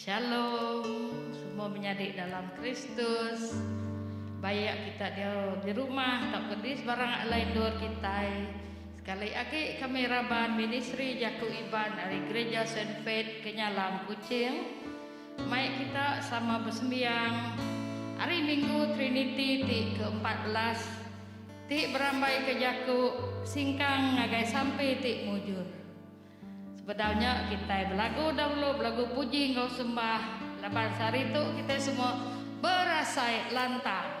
Shalom semua menyadi dalam Kristus. Baik kita dia di rumah tauka di sebarang alai endur kitai. Sekali agi kami raban ministri jaku Iban ari Gereja Saint Faith Kenyalang Kuching. Mai kita sama besembiang Hari Minggu Trinity ti ke-14 Ti berambaika jaku singkang ngagai sampi ti mujur. Sebedau nya kitai belagu dahulu belagu puji enggau sembah laban sehari tu kitai semua berasai lantang.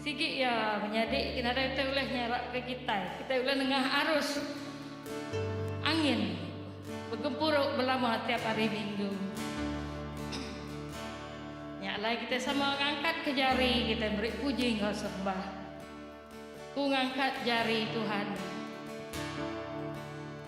Sigi iya menyadi ke nadai kitai ulih nyarapka kitai. Kitai ulih nengah arus angin begempuru belama tiap hari minggu. Nya alai kitai sama ngangkatka jari kitai meri puji enggau sembah. Ku ngangkat jari Tuhan.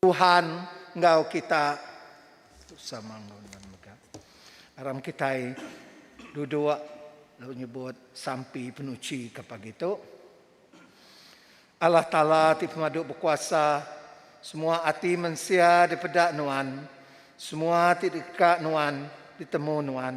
Tuhan enggau kita. Tusah mangun lalu mega. Aram kitai duduk lalu nyebut sampi penuchi ke pagi tu. Allah Taala ti pemadu bekuasa, semua ati mensia dipeda Nuan, semua ti deka Nuan ditemu Nuan.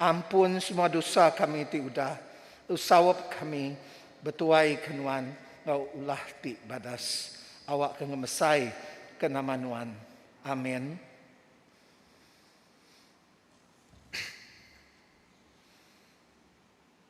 Ampun semua dosa kami ti udah lsaup kami betuai ke Nuan enggau ulah ti badas. Awakka ngemesai ke nama Nuan. Amin.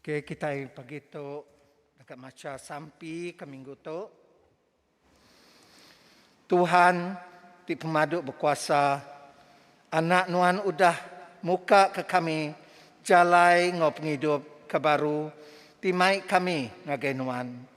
Okey kitai pagi tu deka macha sampi ke minggu tu. Tuhan ti pemadu bekuasa anak nuan udah muka ke kami jalai enggau pengidup ke baru ti mai kami ngagai nuan.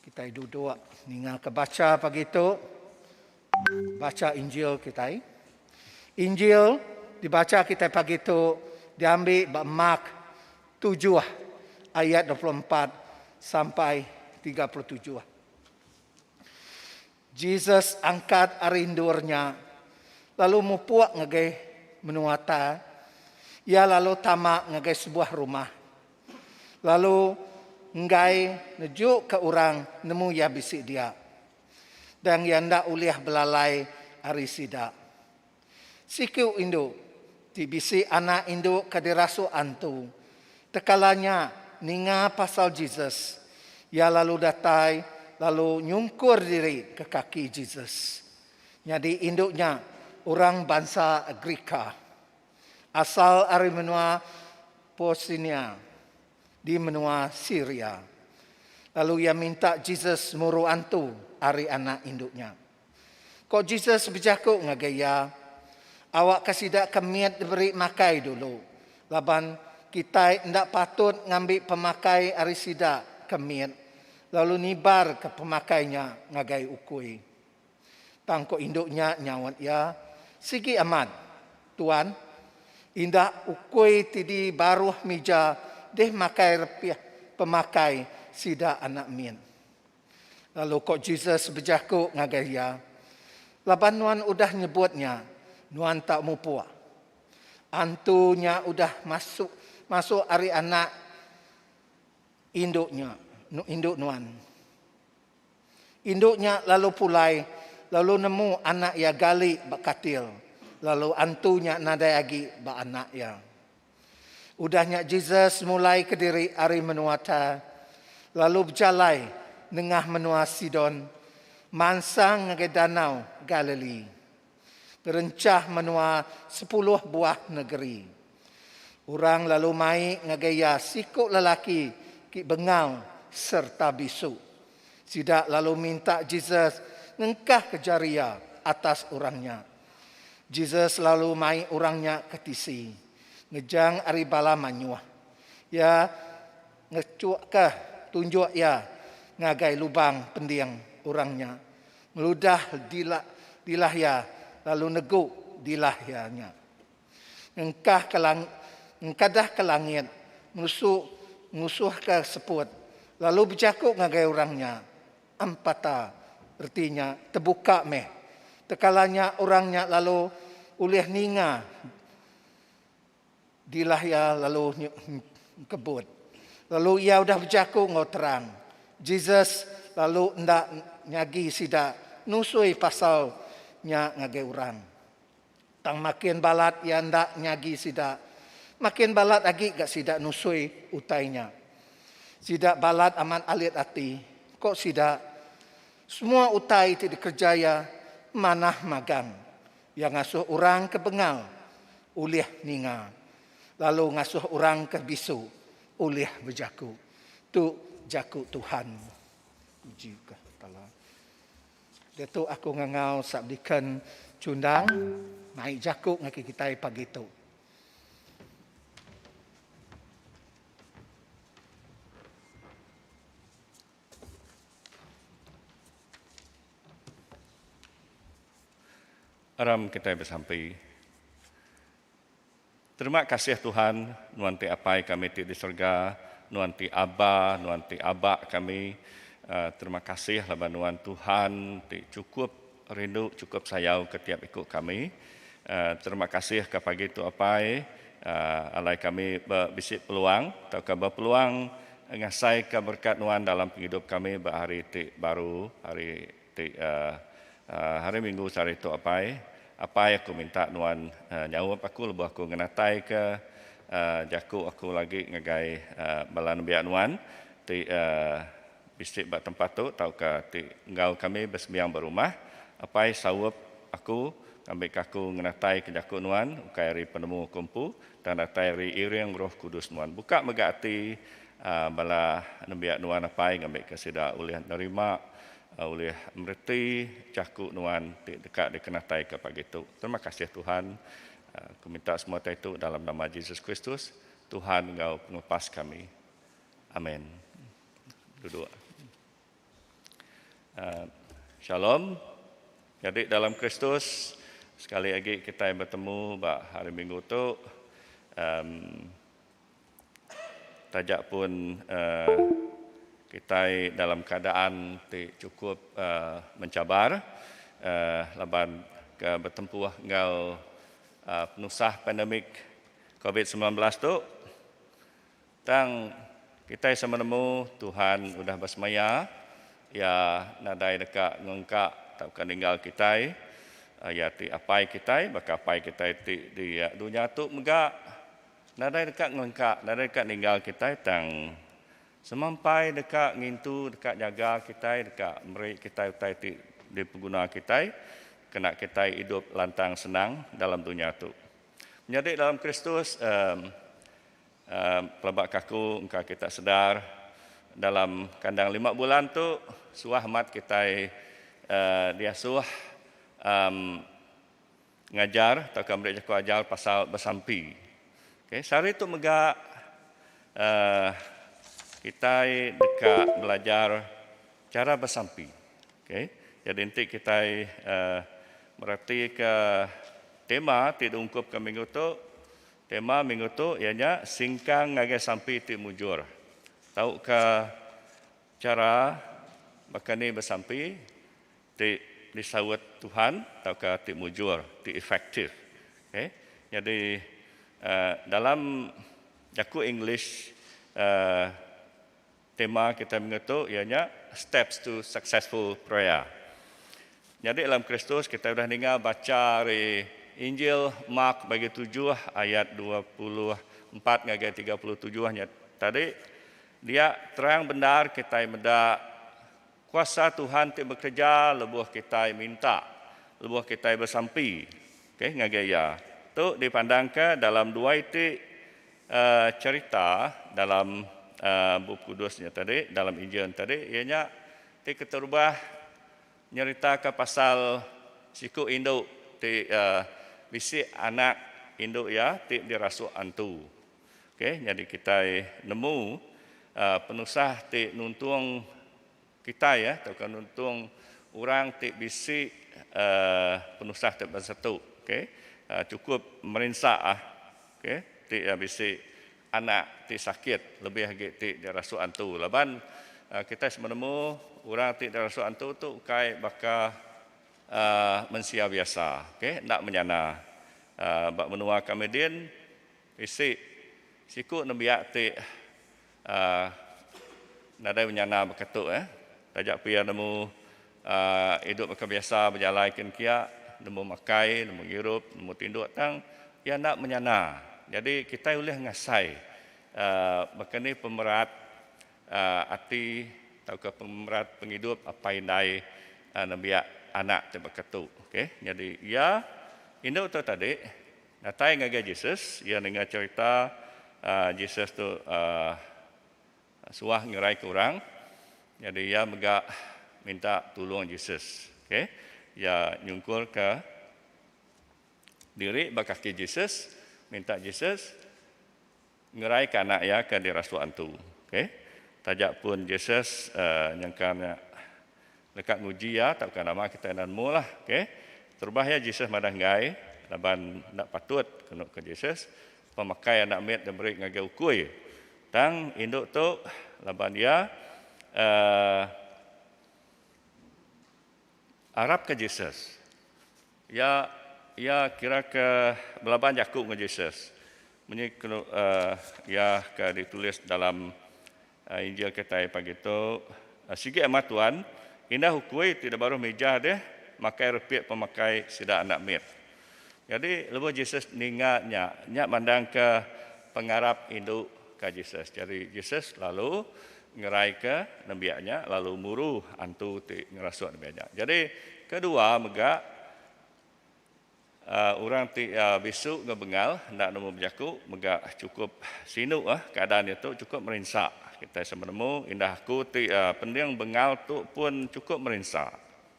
Kitai duduk ninga ke bacha pagi tu. Bacha Injil kitai. Injil dibacha kitai pagi tu diambi ba Mark tujuh ayat dua puluh empat sampai tiga puluh tujuh. Jesus angkat ari endur nya, lalu mupuk ngagai menua ta. Iya lalu tama ngagai sebuah rumah, lalu enggai nejuka orang nemu Iya bisi diak. Tang Iya enda ulih belalai ari sida. Siku indu ti bisi anak indu ke dirasuk antu. Tekala nya ninga pasal Jesus, iya lalu datai lalu nyungkur diri ke kaki Jesus. Nyadi indu nya orang bansa Gerika, asal ari menua Posinia di menua Siria. Lalu iya minta Jesus muru antu ari anak indu nya. Ko Jesus bejaku ngagai iya, Awakka sida ke mit diberi makai dulu, laban kitai enda patut ngambi pemakai ari sida ke mit lalu nibarka pemakai nya ngagai ukui. Tang ko indu nya nyaut iya, Sigi amat, Tuan. Indah ukui ti di baruh mija dih makai repih pemakai sida anak mit. Lalu ko Jesus bejaku ngagai iya, Laban nuan udah nyebut nya, nuan tak mupuk. Antu nya udah masuk masuk ari anak indu nya, indu nuan. Indu nya lalu pulai lalu nemu anak iya gali ba katil, lalu antu nya nadai agi ba anak iya. Udah nya Jesus mulai kediri ari menua Tyre, lalu bejalai nengah menua Sidon mansang ngagai Danau Galilee, ngerenchah menua sepuluh buah negeri. Orang lalu mai ngagai iya siku lelaki ti bengau sereta bisu. Sida lalu minta Jesus ngengkahka jari iya atas orang nya, Jesus lalu mai orang nya ke tisi ngejang ari bala manyuh. Iya ngechukka tunjuk iya ngagai lubang pending orang nya, ngeludah dila dilah iya lalu negu dilah iya nya. Ngengkahka lang ngengkadahka langit, ngusu ngusuhka seput, lalu bejaku ngagai orang nya, Empata, reti nya tebuka meh. Tekala nya orang nya lalu ulih ninga dilah iya lalu nyebut. Lalu iya udah bejaku enggau terang. Jesus lalu enda nyagi sida nusui pasal nya ngagai orang. Tang makin balat iya enda nyagi sida, makin balat agi ga sida nusui utai nya. Sida balat amat alit ati, ko sida, Semua utai ti dikereja iya manah magang. Iya ngasuh orang ke bengal ulih ninga, lalu ngasuh orang ke bisu ulih bejaku. Tu jaku Tuhan. Puji ka Allah. Diatu aku ngangau sap Deacon Chundang naik jaku ngaki kitai pagi tu. Aram kitai besampi. Terima kasih Tuhan, Nuan ti Apai kami ti di serega, Nuan ti Aba, Nuan ti Aba kami. Terima kasih laban Nuan Tuhan ti chukup rindu, chukup sayau ke tiap iku kami. Terima kasih ka pagi tu Apai, alai kami ba bisi peluang tauka ba peluang ngasaika berkat Nuan dalam pengidup kami ba hari ti baru, hari. Ti eh hari minggu sehari tu apai. Apai aku minta nuan eh nyaup aku lebuh aku ngenatai ke eh jaku aku lagi ngagai eh bala nembiak nuan ti eh bisi ba tempat tu tauka ti enggau kami besembiang ba rumah. Apai saup aku ngambika aku ngenatai ke jaku nuan ukai ari penemu aku empu. Tang datai ri iring Roh Kudus nuan. Buka mega ati bala nembiak nuan apai ngambika sida ulih nerima, ulih mereti jaku nuan ti deka dikenataika pagi tu. Terima kasih Tuhan. Aku minta semua utai tu dalam nama Jesus Kristus, Tuhan enggau Pengelepas kami. Amen. Duduk. Shalom. Nyadi dalam Kristus, sekali agi kitai betemu ba Hari Minggu tu, taja pun kitai dalam keadaan ti chukup menchabar laban ke betempuh enggau penusah pandemik Covid sembilan belas tu. Tang kitai sama nemu Tuhan udah besemaya, Iya nadai deka ngungka tauka ninggal kitai. Iya ti Apai kitai, baka apai kitai ti di dunya tu mega nadai deka ngungka, nadai deka ninggal kitai tang semampai deka ngintu, deka nyaga kitai, deka meri kitai utai ti dipeguna kitai kena kitai idup lantang senang dalam dunya tu. Menyadi dalam Kristus, emm. Pelaba kaku engka kita sedar dalam kandang lima bulan tu suah amat kitai diasuh ngajar tauka meri jaku ajar pasal besampi. Sehari tu mega kitai deka belajar chara besampi. Jadi enti kitai meratika tema ti diungkupka minggu tu. Tema minggu tu iya nya Singkang ngagai sampi ti mujur. Tauka chara baka ni besampi ti disaut Tuhan tauka ti mujur, ti efektif. Okay. Nyadi dalam jaku English Tema kitai minggu tu iya nya Steps to Successful Prayer. Nyadi dalam Kristus kitai udah ninga bacha ari Injil Mark bagi tujuh ayat dua puluh empat ngagai tiga puluh tujuh nya tadi, dia terang bendar kitai meda Kuasa Tuhan ti bekereja lebuh kitai minta, lebuh kitai besampi okay, ngagai Iya. Tu dipandangka dalam dua iti cherita dalam Bup Kudus nya tadi, dalam Injil nya tadi, iya nya ti keterubah nyeritaka pasal siku indu ti bisi anak indu iya ti dirasuk antu. Ok nyadi kitai nemu penusah ti nuntung kitai tauka nuntung orang ti bisi penusah ti bansa tu ok chukup merinsa ok ti bisi anak ti sakit lebih agi ti dirasuk antu laban kitai semua nemu orang ti dirasuk antu tu kai baka mensia biasa ok enda menyana ba menua kami din. Isi, Siku nembiak ti nadai menyana baka tu eh. Taja pia nemu idup baka biasa bejalai kin kia, nemu makai, nemu ngirup, nemu tinduk tang iya enda menyana. Nyadi kitai ulih ngasai baka ni pemerat ati tauka pemerat pengidup apai indai nembiak anak ti baka tu. Okey. Nyadi iya indu tu tadi. Datai ngagai Jesus, iya ninga cherita Jesus tu suah ngeraika orang, nyadi iya mega minta tulung Jesus. Okay, iya nyungkurka diri ba kaki Jesus, minta Jesus. Ngeraika anak iya ke dirasuk antu. Okay. Taja pun Jesus nyengkang nya deka nguji iya tauka nama kita enda nemu lah. Okay. Terubah iya Jesus madah enggai laban enda patut kenu ke Jesus pemakai anak mit diberi ngagai ukui. Tang indu tu laban iya uhh. Arapka Jesus. Iya iya kira ke belaban jaku enggau Jesus. Munyi iya ke ditulis dalam Injil kitai pagi tu, Sigi amat Tuan, indah ukui ti dibaruh mija deh makai repi pemakai sida anak mit. Nyadi lebuh Jesus ninga nya, nya mandangka pengarap indu ka Jesus. Jadi Jesus lalu ngeraika nembiak nya lalu muru antu ti ngerasuk nembiak nya. Jadi kedua mega uhh orang ti uhh bisu enggau bengal enda nemu bejaku mega chukup sinu uhh keadaan diatu chukup merinsa kitai sama nemu indah aku ti uhh pending bengal tu pun chukup merinsa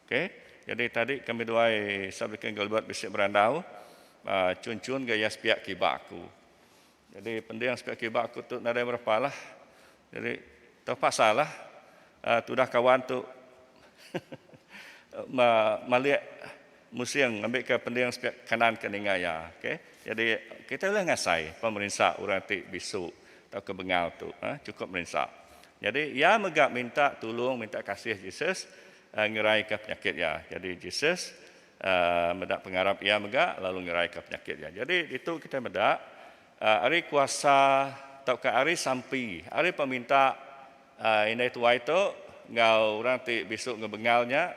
okay jadi tadi kami duai Sub-Diken Gilbert bisi berandau uhh chun-chun ga iya sepiak kiba aku. Jadi pending seka kiba aku tu nadai berepa lah. Jadi terpaksa lah uh, tudah kawan tu malik musing ambil ke pending seka kanan ke ninga ya. Okay. Jadi kita boleh ngasai pemerinsa orang ti bisu atau ke bengal tu. Uh, cukup merinsa. Jadi ya mega minta tulung, minta kasih Jesus uh, eh, ngerai ke penyakit ya. Jadi Jesus meda pengarap iya mega lalu ngeraika penyakit iya. Jadi ditu kitai meda ari kuasa tauka ari sampi ari peminta indai tuai tu enggau orang ti bisu ngebengal nya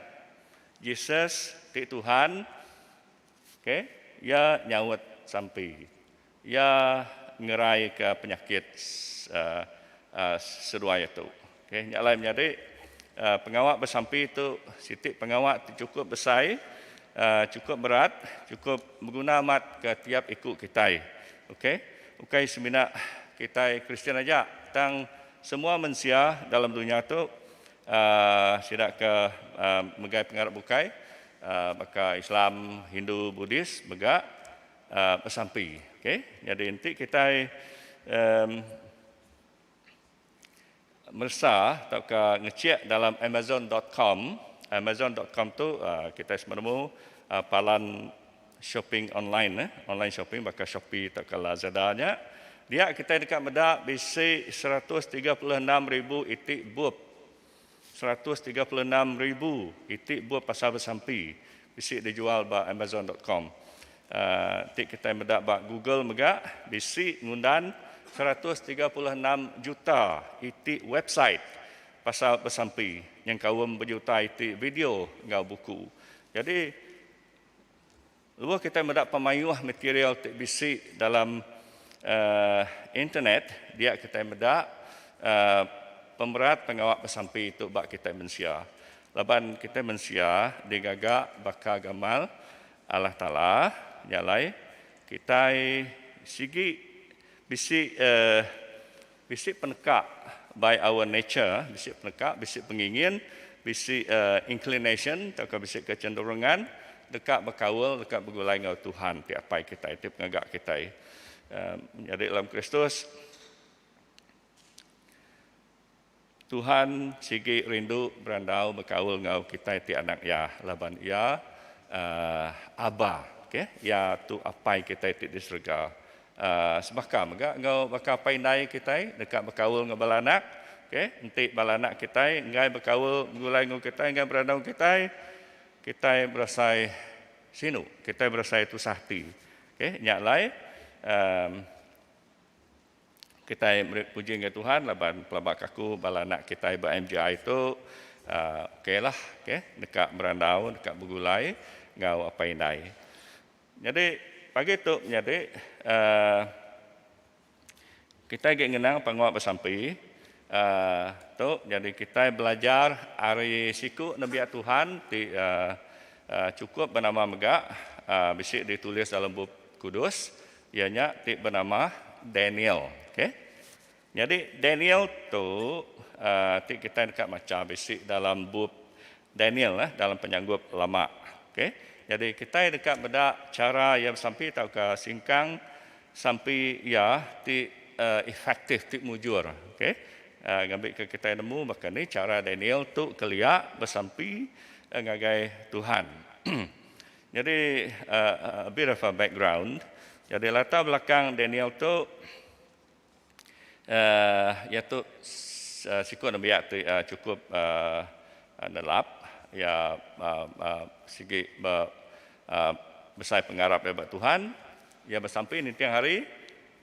Jesus ti Tuhan okay iya nyaut sampi. Iya ngeraika penyakit seduai tu. Nya alai menyadi pengawa besampi tu siti pengawa ti chukup besai, chukup berat, chukup beguna amat ke tiap iku kitai. Ukai semina kitai Kristian aja tang semua mensia dalam dunya tu sida ke megai pengarap bukai baka Islam, Hindu, Buddhis mega. besampi okey nyadi enti kitai um meresa tauka ngechek dalam amazon dot com amazon dot com tu um kitai semua nemu palan shopping online neh online shopping baka shopee tauka lazada nya dia kitai deka meda bisi seratus tiga puluh enam ribu iti bup. seratus tiga puluh enam ribu iti bup pasal besampi bisi dijual ba Amazon dot com. Ti kitai meda ba Google mega bisi ngundan seratus tiga puluh enam juta iti website pasal besampi nyengkaum bejuta iti video enggau buku. Jadi. Lebuh kitai meda pemayuh material ti bisi dalam internet, dia kitai meda pemerat pengawa besampi tu ba kitai mensia. Laban kitai mensia digaga baka gamal Allah Taala, nya alai kitai sigi bisi Bisi peneka by our nature, bisi peneka, bisi pengingin, bisi inclination tauka bisi kecenderungan deka bekaul, deka begulai enggau Tuhan ti Apai kitai, ti Pengaga kitai. Menyadi dalam Kristus. Tuhan sigi rindu berandau bekaul enggau kitai ti anak Iya laban Iya uhh Aba. Okey. Iya tu Apai kitai ti di serega. Uhh sebaka mega enggau baka apai indai kitai deka bekaul enggau bala anak. Okey. Enti bala anak kitai enggai bekaul begulai enggau kitai, enggai berandau enggau kitai, kitai berasai sinu. Kitai berasai tusah ati. Okey. Nya alai uhh. Kitai meri puji ngagai Tuhan laban pelabak aku bala anak kitai ba MGI tu ok lah ok deka berandau deka begulai enggau apai indai. Nyadi pagi tu menyadi uhh kitai agi ngenang pengawa besampi uhh tu nyadi kitai belajar ari siku nembiak Tuhan ti uhh chukup benama mega uhh bisi ditulis dalam bup kudus Iya nya ti benama Daniel. Okay. Nyadi Daniel tu uh, ti kita deka macha bisi dalam bup Daniel eh, dalam penyanggup lama. Okay. Jadi kita deka meda cara iya besampi tauka singkang sampi iya ti uh, efektif, ti mujur. Okay. Uh, ngambil ke kita nemu baka ni cara Daniel tu kelia besampi uh, ngagai Tuhan. Nyadi a bit of a background, nyadi latar belakang Daniel tu iya tu siku nembiak ti chukup nelap iya sigi besai pengarap iya ba Tuhan, iya besampi ninting hari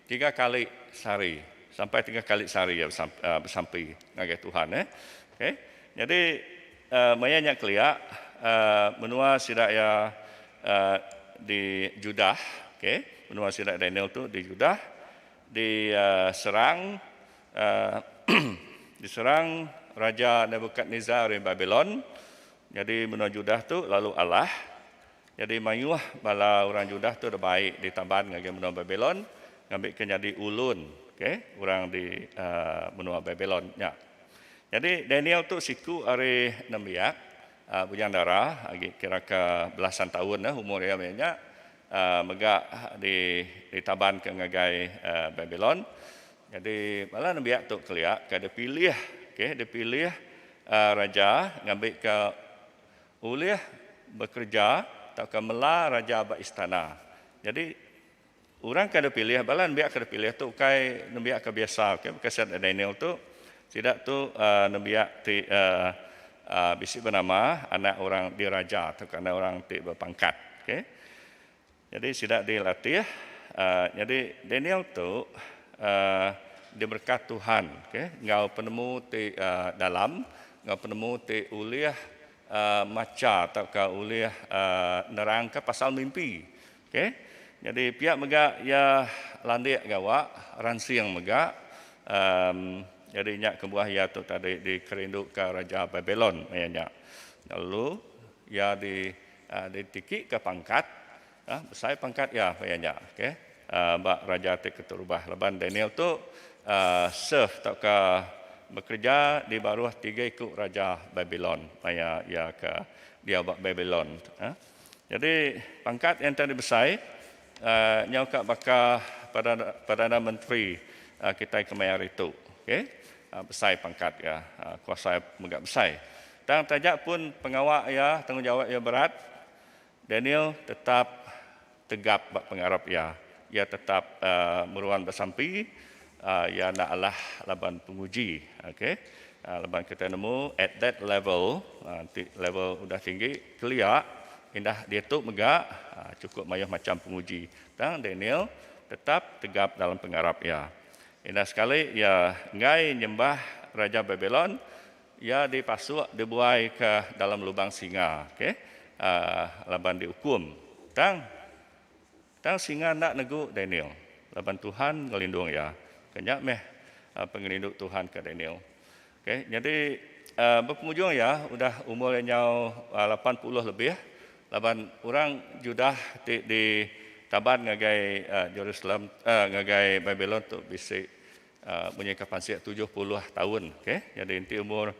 Tiga kali sehari, sampai tiga kali sehari iya besampi ngagai Tuhan. Okay. Nyadi maya nya kelia menua sida iya di Judah, okay, menua sida Daniel tu di Judah di serang di serang Raja Nebukadnezar ari Babilon. Nyadi menua Judah tu lalu alah. Nyadi mayuh bala orang Judah tu deh bai ditaban ngagai menua Babilon ngambika nyadi ulun, okay, orang di menua Babilon nya. Nyadi Daniel tu siku ari nembiak Bujang Dara agi kiraka belasan taun umur iya maya nya mega ditabanka ngagai Babilon. Nyadi bala nembiak tu kelia ka dipilih, okay, dipilih raja ngambika Ulih bekereja tauka mela raja ba istana. Nyadi orang ke dipilih bala nembiak ke dipilih tu ukai nembiak ke biasa okay baka sida enda Daniel tu sida tu nembiak ti bisi benama anak orang diraja tauka anak orang ti bepangkat okay. Nyadi sida dilatih, nyadi Daniel tu diberkat Tuhan enggau penemu ti dalam enggau penemu ti ulih macha tauka ulih nerangka pasal mimpi. Nyadi pia mega iya landik gawa ransing mega nyadi nya kebuah iya tu tadi dikerinduka raja Babilon maya nya lalu iya di. Ditikika pangkat, besai pangkat iya pia nya okey ba raja ti keterubah laban Daniel tu serve tauka bekereja di baruh tiga iku raja Babilon maya iya ke diau ba Babilon. Nyadi pangkat iya enti ari besai nyau ka baka perdana menteri kitai kemaya hari tu okey. Besai pangkat iya, kuasa iya mega besai. Tang taja pun pengawa iya, tanggungjawap iya berat, Daniel tetap tegap ba pengarap iya. Iya tetap meruan besampi, iya enda alah laban penguji. Okay. Laban kitai nemu at that level, ti level udah tinggi, kelia, indah diatu mega chukup mayuh macham penguji. Tang Daniel tetap tegap dalam pengarap iya. Enda sekali iya enggai nyembah raja Babilon, iya dipasuk dibuaika dalam lubang singa, okey, laban diukum. Tang, tang singa enda negu Daniel, laban Tuhan ngelindung iya. Ke nya meh pengelindu Tuhan ke Daniel. Okey, nyadi bepengujung iya udah umur iya nyau lapan puluh lebih laban orang Judah ti ditaban ngagai Jerusalem, ngagai Babilon tu bisi munyi ka pansik tujuh puluh taun. Okey, nyadi enti umur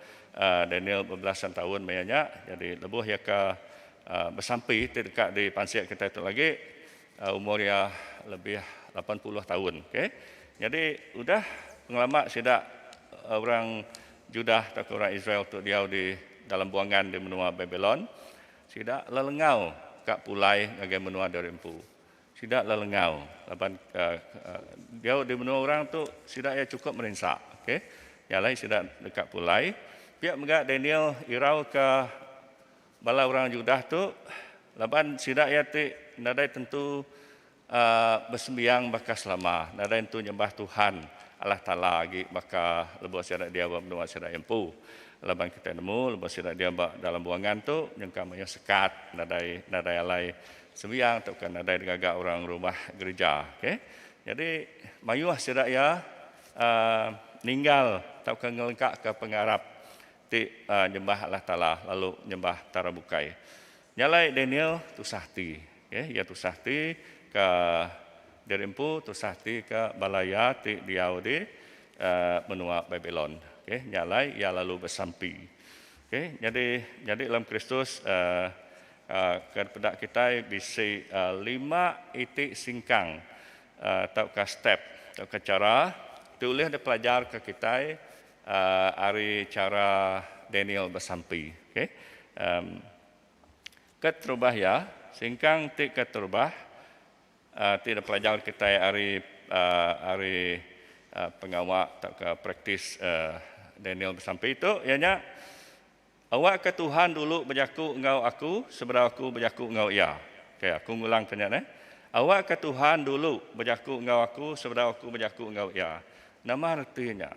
Daniel bebelasan taun maya nya, nyadi lebuh iya ka besampi ti deka dipansik kitai tu agi, Umur iya lebih lapan puluh taun. Okay. Nyadi udah pengelama sida orang Judah tauka orang Israel tu diau di dalam buangan di menua Babilon, sida lelengau ka pulai ngagai menua diri empu. Sida lelengau laban diau di menua orang tu sida iya chukup merinsa. Okay. Nya alai sida deka pulai. Pia mega Daniel irauka. Bala orang Judah tu, laban sida iya ti nadai tentu besembiang baka selama, nadai nentu nyembah Tuhan Allah Taala agi baka lebuh sida diau ba menua sida empu. Laban kitai nemu lebuh sida diau ba dalam buangan tu nyengkam mayuh sekat, nadai nadai alai sembiang tauka nadai digaga orang rumah gerija. Okey. Nyadi mayuh sida iya ninggal tauka ngelengkaka pengarap Ti nyembah Allah Taala lalu nyembah tara bukai. Nya alai Daniel tusah ati. Okay, iya tusah ati ka diri empu, tusah ati ka bala iya ti diau di menua Babilon. Okay, nya alai iya lalu besampi. Okay, nyadi nyadi dalam Kristus ke peda kitai bisi lima iti singkang tauka step tauka chara ti ulih dipelajar ka kitai. Ari chara Daniel besampi. Ke terubah iya, singkang ti ke terubah ti dipelajar kitai ari ari pengawa tauka praktis Daniel besampi tu iya nya. Awakka Tuhan dulu bejaku enggau aku sebedau aku bejaku enggau Iya. Okey, aku ngulangka nya neh. Awakka Tuhan dulu bejaku enggau aku sebedau aku bejaku enggau Iya. Nama reti nya?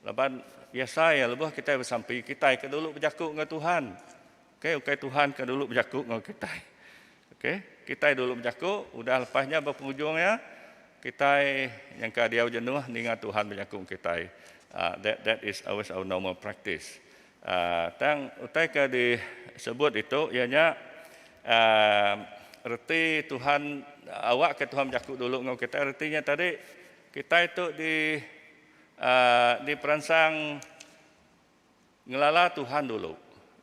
Laban biasa iya lebuh kitai besampi, kitai ke dulu bejaku enggau Tuhan. Okey, ukai Tuhan ke dulu bejaku enggau kitai. Okey, kitai dulu bejaku, udah lepas nya ba pengujung iya, kitai nyangka diau jenuh ninga Tuhan bejaku enggau kitai. That that is always our normal practice. Tang utai ke disebut ditu iya nya reti Tuhan awakka Tuhan bejaku dulu enggau kitai reti nya tadi kitai tu di diperansang ngelala Tuhan dulu.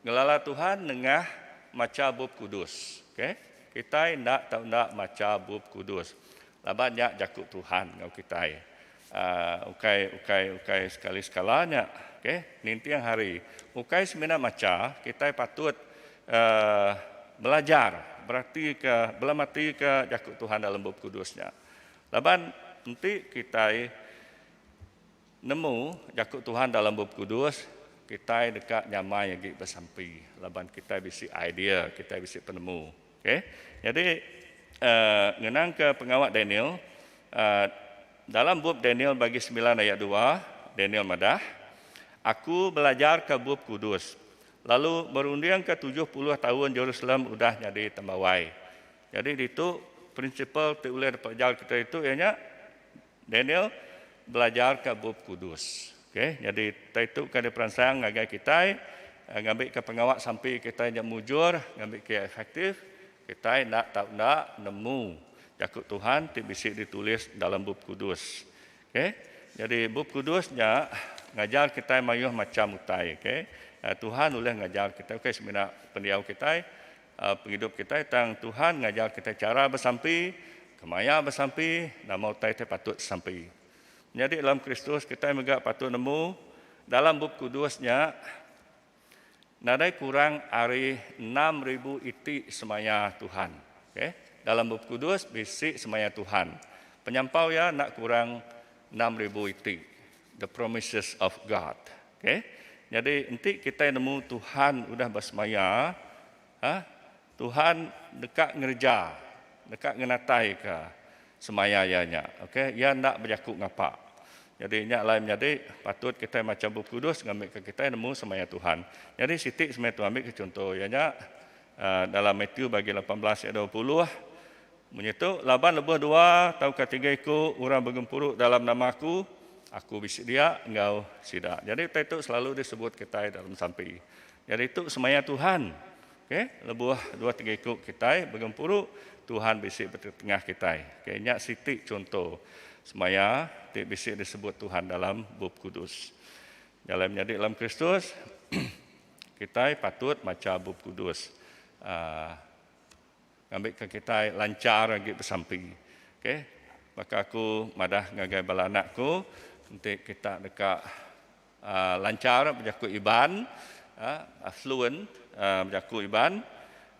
Ngelala Tuhan nengah macha Bup Kudus. Okay. Kitai enda tau enda macha Bup Kudus. Laban nya jaku Tuhan enggau kitai ukai ukai ukai sekali sekala nya. Okay. Ninting hari. Ukai semina macha, kitai patut belajar beratika belamatika jaku Tuhan dalam Bup Kudus nya. Laban enti kitai nemu jaku Tuhan dalam Bup Kudus, kitai deka nyamai agi besampi laban kitai bisi idea, kitai bisi penemu. Okey. Nyadi ngenangka pengawa Daniel, dalam bup Daniel bagi semilan ayat dua, Daniel madah, Aku belajarka Bup Kudus, lalu merundingka tujuh puluh taun Jerusalem udah nyadi tembawai. Nyadi ditu prinsipal ti ulih dipelajar kitai tu iya nya. Daniel belajarka Bup Kudus. Okay, jadi taitu ka diperansang ngagai kitai eh, ngambika pengawa sampi kitai nya mujur, ngambika efektif, kitai enda tau enda nemu jaku Tuhan ti bisi ditulis dalam Bup Kudus. Okay, jadi Bup Kudus nya ngajar kitai mayuh macham utai. Okay, eh, Tuhan ulih ngajar kitai. Okay, semina pendiau kitai. pengidup kitai tang Tuhan ngajar kitai chara besampi, kemaya besampi, nama utai ti patut disampi. Menyadi dalam Kristus kitai mega patut nemu dalam Bup Kudus nya nadai kurang ari enam ribu iti semaya Tuhan. Okay. Dalam Bup Kudus bisi semaya Tuhan. Penyampau iya enda kurang enam ribu iti. The promises of God. Okay. Nyadi enti kitai nemu Tuhan udah besemaya, ha, Tuhan deka ngereja, deka ngenataika semaya Iya nya. Okay. Iya enda bejaku ngapa. Nyadi nya alai menyadi patut kitai macha Bup Kudus ngambika kitai nemu semaya Tuhan. Nyadi siti semaya Tuhan ambika chunto iya nya, dalam Matthew bagi lapan belas ayat dua puluh, Munyi tu, laban lebuh dua tauka tiga iku orang begempuru dalam nama Aku, Aku bisi dia enggau sida. Jadi utai tu selalu disebut kitai dalam sampi. Jadi tu semaya Tuhan. Okay? Lebuh dua tiga iku kitai begempuru, Tuhan bisi betetengah kitai. Okay? Nya siti chunto semaya ti bisi disebut Tuhan dalam Bup Kudus. Jalai menyadi dalam Kristus, kitai patut macha Bup Kudus. Uh, Ngambika kitai lanchar agi besampi. Okay. Baka aku madah ngagai bala anak aku, enti kita deka aaa lanchar bejaku Iban, aaa fluent aaa bejaku Iban,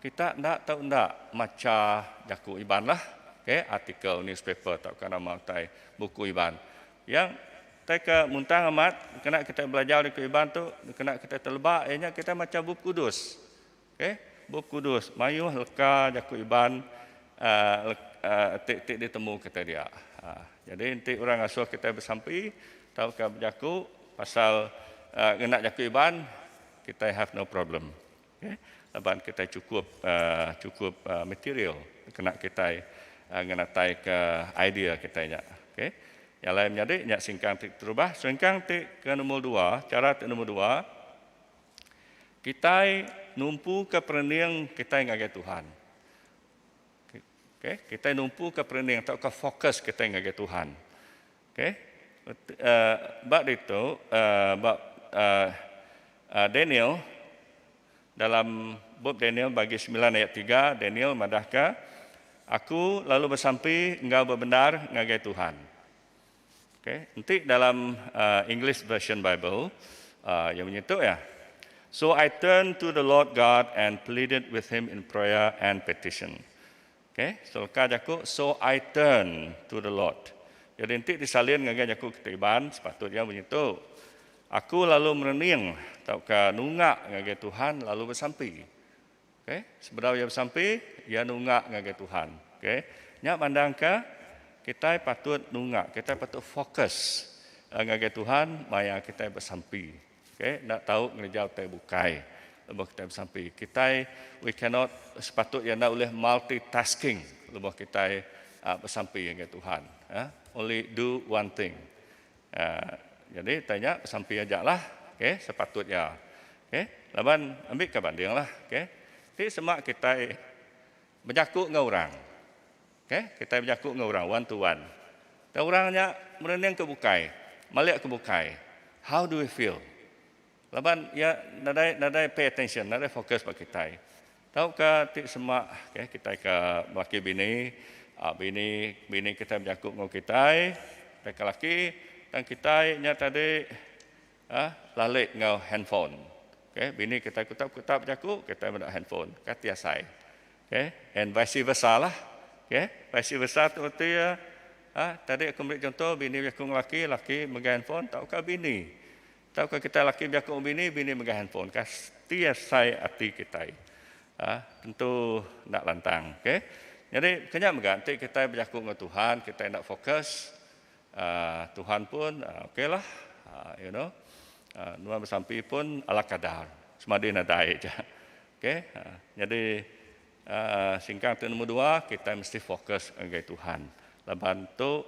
kita enda tau enda macha jaku Ibanlah. Okay. Artikel, newspaper tauka nama utai buku Iban. Iya utai ke muntang amat dikena kitai belajar jaku Iban tu, dikena kitai teleba iya nya kitai macha Bup Kudus. Ke, Bup Kudus mayuh leka jaku Iban ti ditemu kitai dia. Nyadi enti orang ngasuh kitai besampi tauka bejaku pasal ngena jaku Iban, kitai have no problem. Ke, laban kitai chukup chukup material kena kitai ngenataika idea kitai nya. Ke, nya alai menyadi nya singkang ti keterubah. Singkang ti ke nombor dua, chara ti nombor dua, Kitai numpuka perening kitai ngagai Tuhan. Okey, kitai numpuka perening tauka fokus kitai ngagai Tuhan. Okey. Uh, ba ditu uh, ba uh, uh, Daniel dalam bup Daniel bagi 9 ayat 3 Daniel madahka aku lalu besampi enggau bebendar ngagai Tuhan. Ok, enti dalam English Version Bible, iya munyi tu iya, So I turned to the Lord God and pleaded with him in prayer and petition. Ok, so leka jaku, so I turned to the Lord. Jadi enti disalin ngagai jaku kita Iban, sepatut iya munyi tu, Aku lalu merening tauka nunga ngagai Tuhan lalu besampi. Okay. Sebedau iya besampi, iya nunga ngagai Tuhan. Okay. Nya mandangka kitai patut nunga, kitai patut fokus eh, ngagai Tuhan maya kitai besampi. Okay. Nak tahu ngereja utai bukai lebuh kitai besampi. Kitai, we cannot, sepatut iya enda ulih multitasking lebuh kitai uh, besampi ngagai Tuhan. Eh. Only do one thing. Jadi tanya besampi aja lah sepatut nya laban ambi ka banding lah ti sema kitai bejaku enggau orang kitai bejaku enggau orang one to one tau orang nya merening ke bukai malik ke bukai how do we feel. Laban iya nadai nadai pay attention, nadai fokus ba kitai. Tauka ti semak okay, kitai ke laki bini, ah, bini bini kitai bejaku enggau kitai, kitai ke laki tang kitai nya tadi ah, lali enggau handphone. Okay, bini kitai kutak kutak bejaku, kitai meda handphone. Ka ti asai. Okay, and vice versa lah. Okay, vice versa tu reti iya ah, tadi aku meri contoh bini bejaku enggau laki, laki megai handphone tauka bini Tauka kitai laki bejaku enggau bini, bini megang handphone ka ti asai ati kitai tentu enda lantang ok. Nyadi kenya mega enti kitai bejaku enggau Tuhan kitai enda focus Tuhan pun oklah you know nuan besampi pun ala kadar semadi nadai aja ok nyadi Singkang tu nombor dua, kitai mesti fokus ngagai Tuhan. Laban tu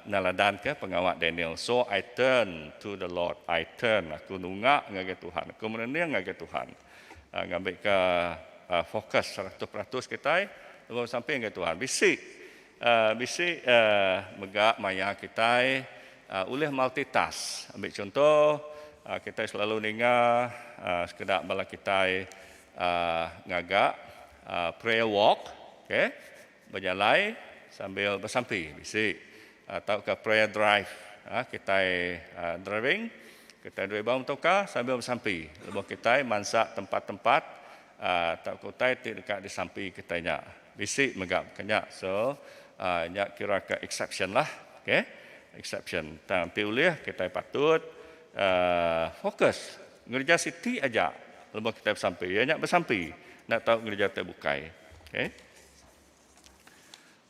neladanka pengawa Daniel, So I turn to the Lord, I turn, aku nunga ngagai Tuhan, aku merening ngagai Tuhan. Ngambika fokus seratus peratus kitai lebuh besampi ngagai Tuhan. Bisi bisi mega maya kitai ulih multitask. Ambi chunto, kitai selalu ninga sekeda bala kitai ngaga prayer walk okay bejalai sambil besampi bisi tauka prayer drive kitai driving kitai drive ba motorcar sambil besampi lebuh kitai mansa tempat-tempat tauka utai ti deka disampi kitai nya bisi mega baka nya so nya kira ka exceptionlah okay exception tang ti ulih kitai patut focus. Ngereja siti aja lebuh kitai besampi, iya nya besampi enda tau ngereja ti bukai. Okay.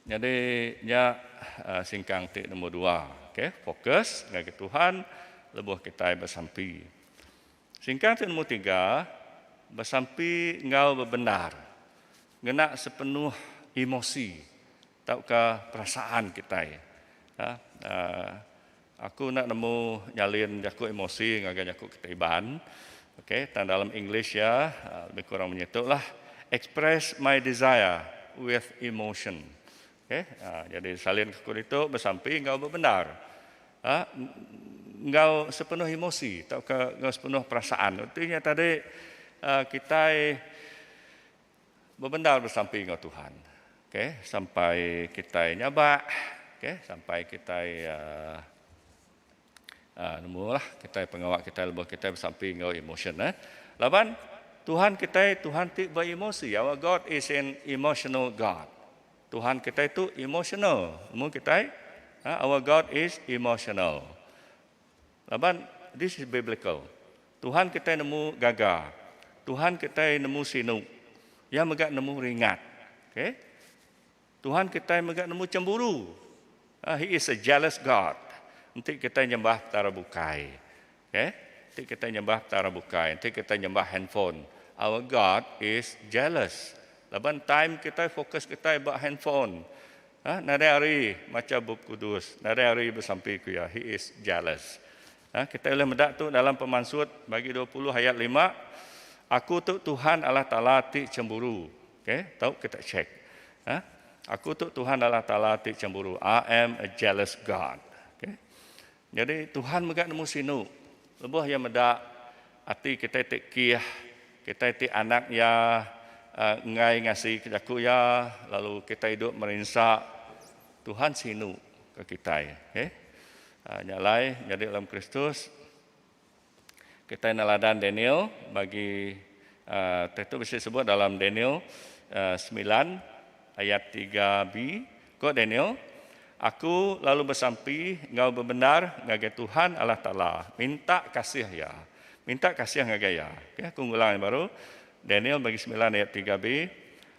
Nyadi nya singkang ti nombor dua. Okay. Fokus ngagai Tuhan lebuh kitai besampi. Singkang ti nombor tiga, besampi enggau bebendar. Ngena sepenuh emosi Tauka perasaan kitai. Aku enda nemu nyalin jaku emosi ngagai jaku kitai Iban. Ok, tang dalam English iya lebih kurang menyia tu lah. Express my desire with emotion. Ok, jadi salin ke aku ditu besampi enggau bebendar. Enggau sepenuh emosi tauka enggau sepenuh perasaan. Reti nya tadi kitai. Bebendar besampi enggau Tuhan. Okay. Sampai kitai nyabak. Okay. Sampai kitai uh, uh, nemu lah. Kitai pengawa kitai lebuh kitai besampi enggau emotion. Eh. Laban Tuhan kitai Tuhan ti beremosi. Our God is an emotional God. Tuhan kitai tu emotional. Nemu kitai? Uh, our God is emotional. Laban, this is biblical. Tuhan kitai nemu gaga. Tuhan kitai nemu sinu. Iya mega nemu ringat. Okay? Tuhan kitai mega nemu cemburu. Uh, he is a jealous God. Enti kitai nyembah petara bukai. Okay? Enti kitai nyembah petara bukai. Enti kitai nyembah handphone. Our God is jealous. Laban time kitai fokus kitai ba handphone. Hah nadai ari macha bup kudus nadai ari besampi ku iya he is jealous hah kitai ulih meda tu dalam pemansut bagi dua puluh ayat lima aku tu tuhan Allah taala ti chemburu okay tau kita check hah aku tu tuhan Allah taala ti chemburu I am a jealous God okay Nyadi, Tuhan mega nemu sinu. Lebuh Iya meda ati kitai ti kih, kitai ti anak Iya, enggai ngasi ke jaku Iya, lalu kitai duk merinsa, Tuhan sinu ke kitai. Okey. Nya alai, nyadi dalam Kristus. Kitai neladan Daniel bagi teh tu bisi sebut dalam Daniel semilan ayat tiga bi, ko Daniel, Aku lalu besampi enggau bebendar ngagai Tuhan Allah Taala, minta kasih Iya, minta kasih ngagai Iya. Okey, aku ngulang yang baru, Daniel bagi semilan ayat tiga bi,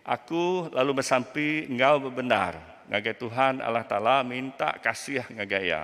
Aku lalu besampi enggau bebendar ngagai Tuhan Allah Taala, minta kasih ngagai Iya.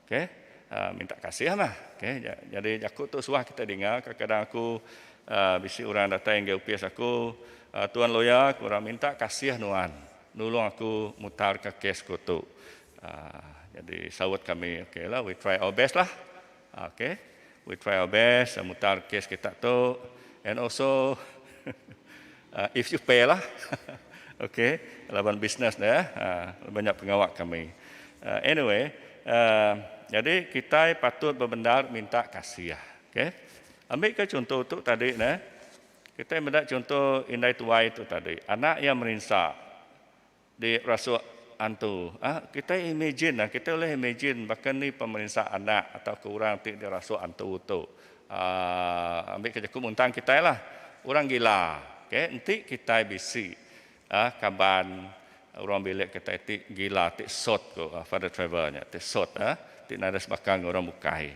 Ok minta kasih meh ok jadi jaku tu suah kita dinga kadang kadang aku bisi orang datai ngagai opis aku tuan lawyer aku orang minta kasih nuan nulung aku mutar ka kes ku tu jadi saut kami ok lah we try our best lah ok. We try our best dah mutar kes kita tu and also if you pay lah okay laban business ne laban nya pengawa kami anyway jadi kitai patut bebendar minta kasih okay ambika chunto tu tadi ne kitai meda chunto indai tuai tu tadi anak iya merinsa. Di rasuk antu. Ahh kitai imagine nah, kitai ulih imagine baka ni pemerinsa anak atauka orang ti di rasuk antu tu. Ahh ambi ka jaku muntang kitai lah. Orang gila. Okay enti kitai bisi ahh kaban orang bilik kitai ti gila ti sot ko Father Trevor nya ti sot ahh ti nadai sebaka enggau orang bukai.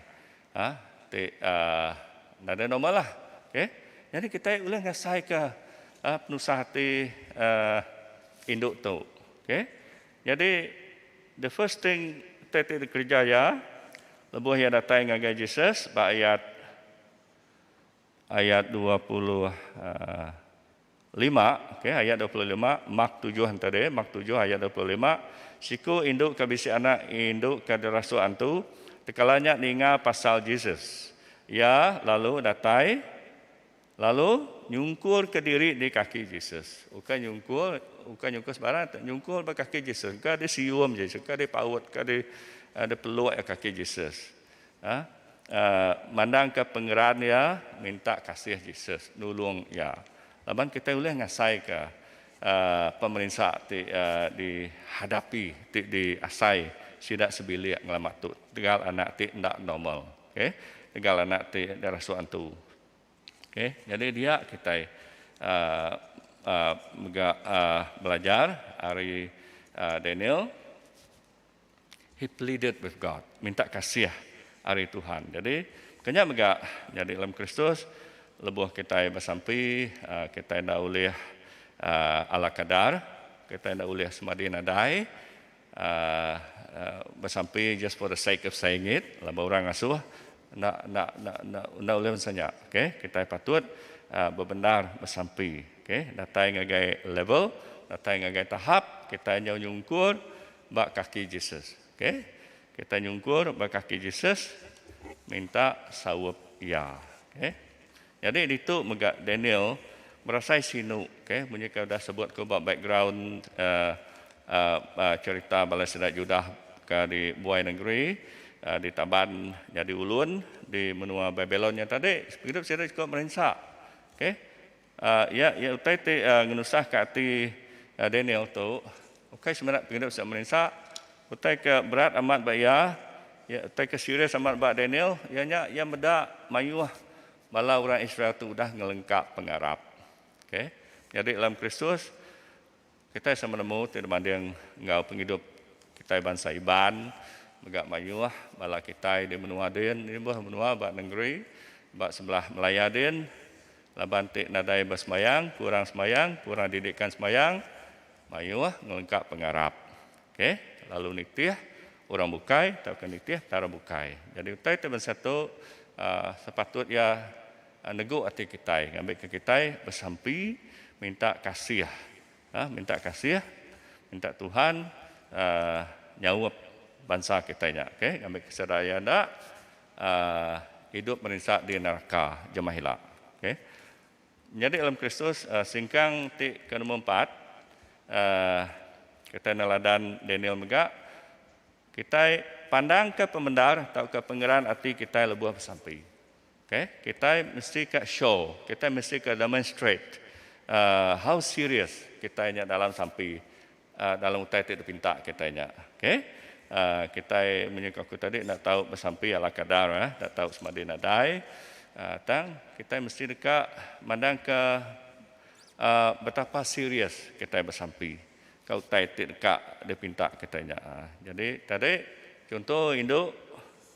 Ha, ti uh, nada normal lah. Okay. Jadi kita boleh ngasai ke uh, penusah ti uh, induk tu. Okay. Jadi, the first thing kita ti dikerja ya, lebuh ya datai ngagai Jesus, ba ayat ayat 20, uh, lima, ok, ayat dua puluh lima, Mak tujuh enta deh, Mak tujuh ayat dua puluh lima, siku indu ka bisi anak indu ka dirasuk antu, tekala nya ninga pasal Jesus, iya lalu datai lalu nyungkur ka diri di kaki Jesus, ukai nyungkur, ukai nyungkur sebarang tu, nyungkur ba kaki Jesus, ka di sium Jesus, ka di paut, ka di peluk iya kaki Jesus. Mandangka pengeran iya, minta kasih Jesus nulung iya. Laban kitai ulih ngasaika pemerinsa ti dihadapi ti diasai sida sebilik ngelamak tu tegal anak ti enda normal. Okay. Tegal anak ti dirasuk antu. Okay. Jadi dia kitai mega belajar ari Daniel. He pleaded with God, minta kasih ari Tuhan. Jadi, kenya mega nyadi dalam Kristus, lebuh kitai besampi, ah, kitai enda ulih ah, ala kadar, kitai enda ulih semadi nadai, ah, ah, besampi just for the sake of saying it, laban lah orang ngasuh, enda, enda, enda, enda, enda ulih bansa nya. Okay? Kitai patut ah, bebendar besampi. Okay? Datai ngagai level, datai ngagai tahap, kitai nyau nyungkur, ba kaki Jesus. Okay. Kita nyungkur ba kaki Jesus minta saup Iya. Okay. Nyadi ditu mega Daniel berasai sinu. Okay. Munyi ke udah sebut ku ba background Uh, uh, uh, cerita bala sida Judah ke di buai nengeri, uh, di taban nyadi ulun di menua Babilon nya tadi, pengidup sida siko merinsa. Okay. Iya iya utai ti ngenusahka ati Daniel tu ukai semina pengidup sida meninsa. Utai ke berat amat ba iya, iya utai ke serius amat ba Daniel iya nya iya meda mayuh bala orang Israel tu udah ngelengkap pengarap. Okay. Menyadi dalam Kristus. Kitai sama nemu ti dibanding enggau pengidup kitai bansa Iban mega mayuh bala kitai di menua din nibuh menua ba nengeri ba sebelah Malaya din laban ti nadai besembayang, kurang sembayang, kurang didikan sembayang mayuh ngelengkap pengarap ke lalu nitih orang bukai tauka nitih petara bukai. Jadi utai ti bansa tu aaa sepatut iya. Negu ati kitai ngambika kitai besampi minta kasih. Minta kasih, minta Tuhan nyaup bansa kitai nya ngambika sida iya enda idup merinsa di neraka jemah ila. Menyadi dalam Kristus singkang ti ke nombor empat, kitai neladan Daniel mega, kitai pandangka pemendar tauka pengeran ati kitai lebuh besampi. Ke, kitai mesti ka show, kitai mesti ka demonstrate how serious kitai nya dalam sampi dalam utai ti dipinta kitai nya. Ke, kitai munyi ke aku tadi enda tau besampi ala kadar, enda tau semadi nadai tang kitai mesti deka mandang ke betapa serious kitai besampi ka utai ti deka dipinta kitai nya. Jadi tadi chunto indu.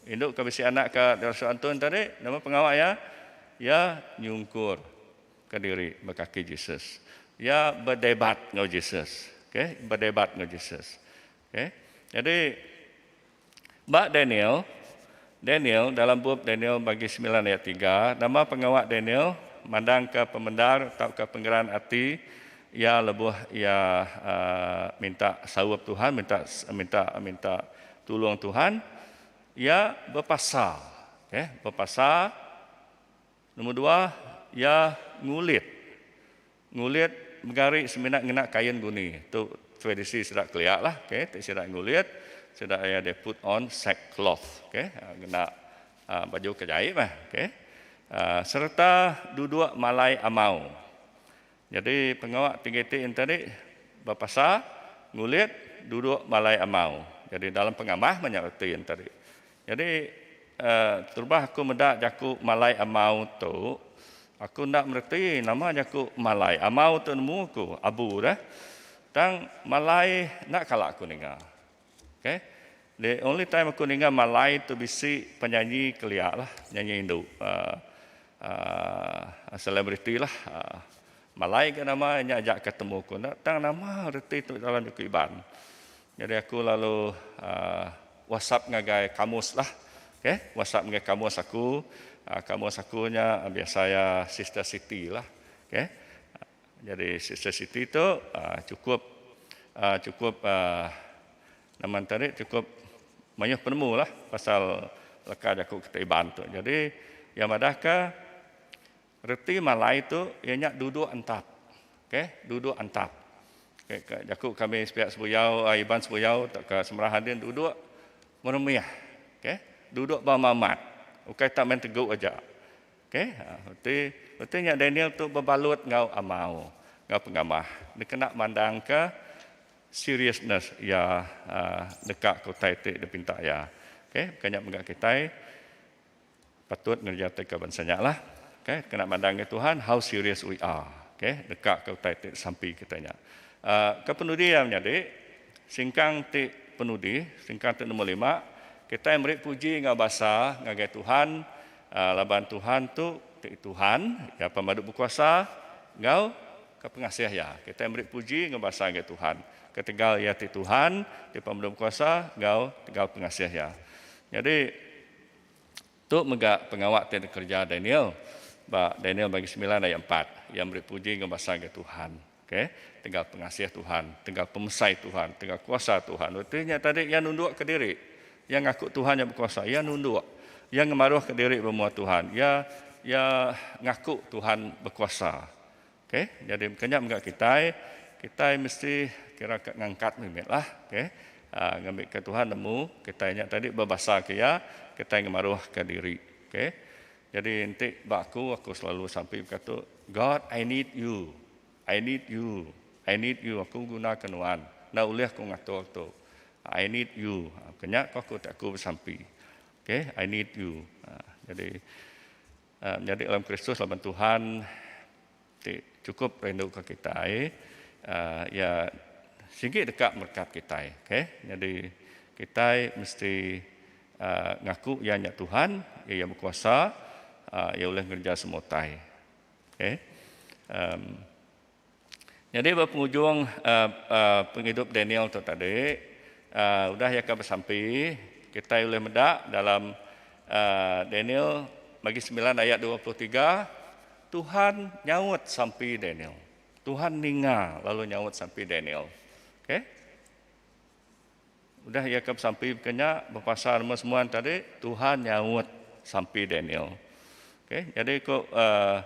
Indu ke bisi anak ka dirasuk Antun tadi, nama pengawa iya? Iya nyungkur ka diri ba kaki Jesus. Iya bedebat enggau Jesus. Okey, bedebat enggau Jesus. Okey. Jadi ba Daniel, Daniel dalam bup Daniel bagi semilan ayat tiga, nama pengawa Daniel mandang ka pemendar tauka pengeran ati iya lebuh iya minta saup Tuhan, minta minta minta Tulung Tuhan, iya bepasa. Oke, bepasa. Nombor dua, iya ngulit. Ngulit mega ari semina ngena kain guni. Tu tradisi sida kelia lah. Oke, ti sida ngulit, sida iya they put on sack cloth. Oke, ngena aaa baju ke jai meh. Oke. Aaa sereta duduk malai amau. Nyadi pengawa ti kiti enti ri bepasa ngulit duduk balai amau. Nyadi dalam pengamah meh nya reti enti ri. Nyadi terubah aku meda jaku malai amau tu aku enda mereti nama jaku malai. Amau tu nemu aku abu dah. Tang malai enda kala aku ninga. Okay, the only time aku ninga malai tu bisi penyanyi kelia lah, penyanyi indu uhh celebrity lah uhh malai ga nama nya aja ka temu ku enda tang nama reti tu dalam jaku iban. Nyadi aku lalu uhh whatsapp ngagai kamus lah, okay, whatsapp ngagai kamus aku, uhh kamus aku nya biasa iya Sister Siti lah, okay. Jadi Sister Siti tu chukup chukup nama enta ri chukup mayuh penemu lah pasal leka jaku kita Iban tu. Jadi iya madah ka reti malai tu iya nya duduk entap. Ok duduk entap. Jaku kami sepiak Sebuyau Iban Sebuyau tauka Semerahan din duduk meremih. Ok duduk ba mamat. Ukai tak main tegu aja. Okey, reti reti nya Daniel tu bebalut enggau amau enggau pengamah dikena mandangka seriousness iya deka ke utai ti dipinta iya. Okey, baka nya mega kitai patut ngerejatika bansa nya lah. Okey, kena mandang ke Tuhan how serious we are. Okey, deka ke utai ti disampi kitai nya. Aaa ke penudi iya menyadi singkang ti penudi, singkang ti nombor lima, kitai meri puji enggau basa ngagai Tuhan Laban Tuhan tu ti Tuhan, Iya Pemadu Bekuasa enggau ke Pengasih Iya. Kitai meri puji enggau basa ngagai Tuhan, ketegal Iya ti Tuhan, ti Pemadu Bekuasa enggau tegal pengasih Iya. Nyadi, tu mega pengawa ti dikereja Daniel ba Daniel bagi semilan ayat empat. Iya meri puji enggau basa ngagai Tuhan. Okay, tegal pengasih Tuhan, tegal pemesai Tuhan, tegal kuasa Tuhan. Reti nya tadi iya nunduk ke diri. Iya ngaku Tuhan nya bekuasa, iya nunduk. Iya ngemaruh ke diri bemua Tuhan. Iya iya ngaku Tuhan bekuasa. Okay, jadi kenya mega kitai, kitai mesti kira ke ngangkat mimit lah. Okay, ah, ngambi ke Tuhan nemu kitai nya tadi bebasa ke iya, kitai ngemaruh ke diri. Okay. Jadi enti ba aku, aku selalu sampi bekatu, God I need you, I need you, I need you, aku begunaka nuan, enda ulih aku ngatur tu, I need you, ha, kenya ko aku ti aku besampi, ok, I need you, ha, jadi, ha, menyadi dalam Kristus laban Tuhan. Ti chukup rinduka kitai iya sigi deka merekat kitai. Okay. Nyadi kitai mesti ngaku iya nya Tuhan, iya iya bekuasa, iya ulih ngereja semua utai. Okay. Nyadi ba pengujung pengidup Daniel tu tadi, udah iya ka besampi, kitai ulih meda dalam Daniel bagi semilan ayat dua puluh tiga, Tuhan nyaut sampi Daniel. Tuhan ninga lalu nyaut sampi Daniel. Okey. Udah ia ke sampi kenya bepasal nama semua tadi, Tuhan nyaut sampi Daniel. Okey, jadi ko uh,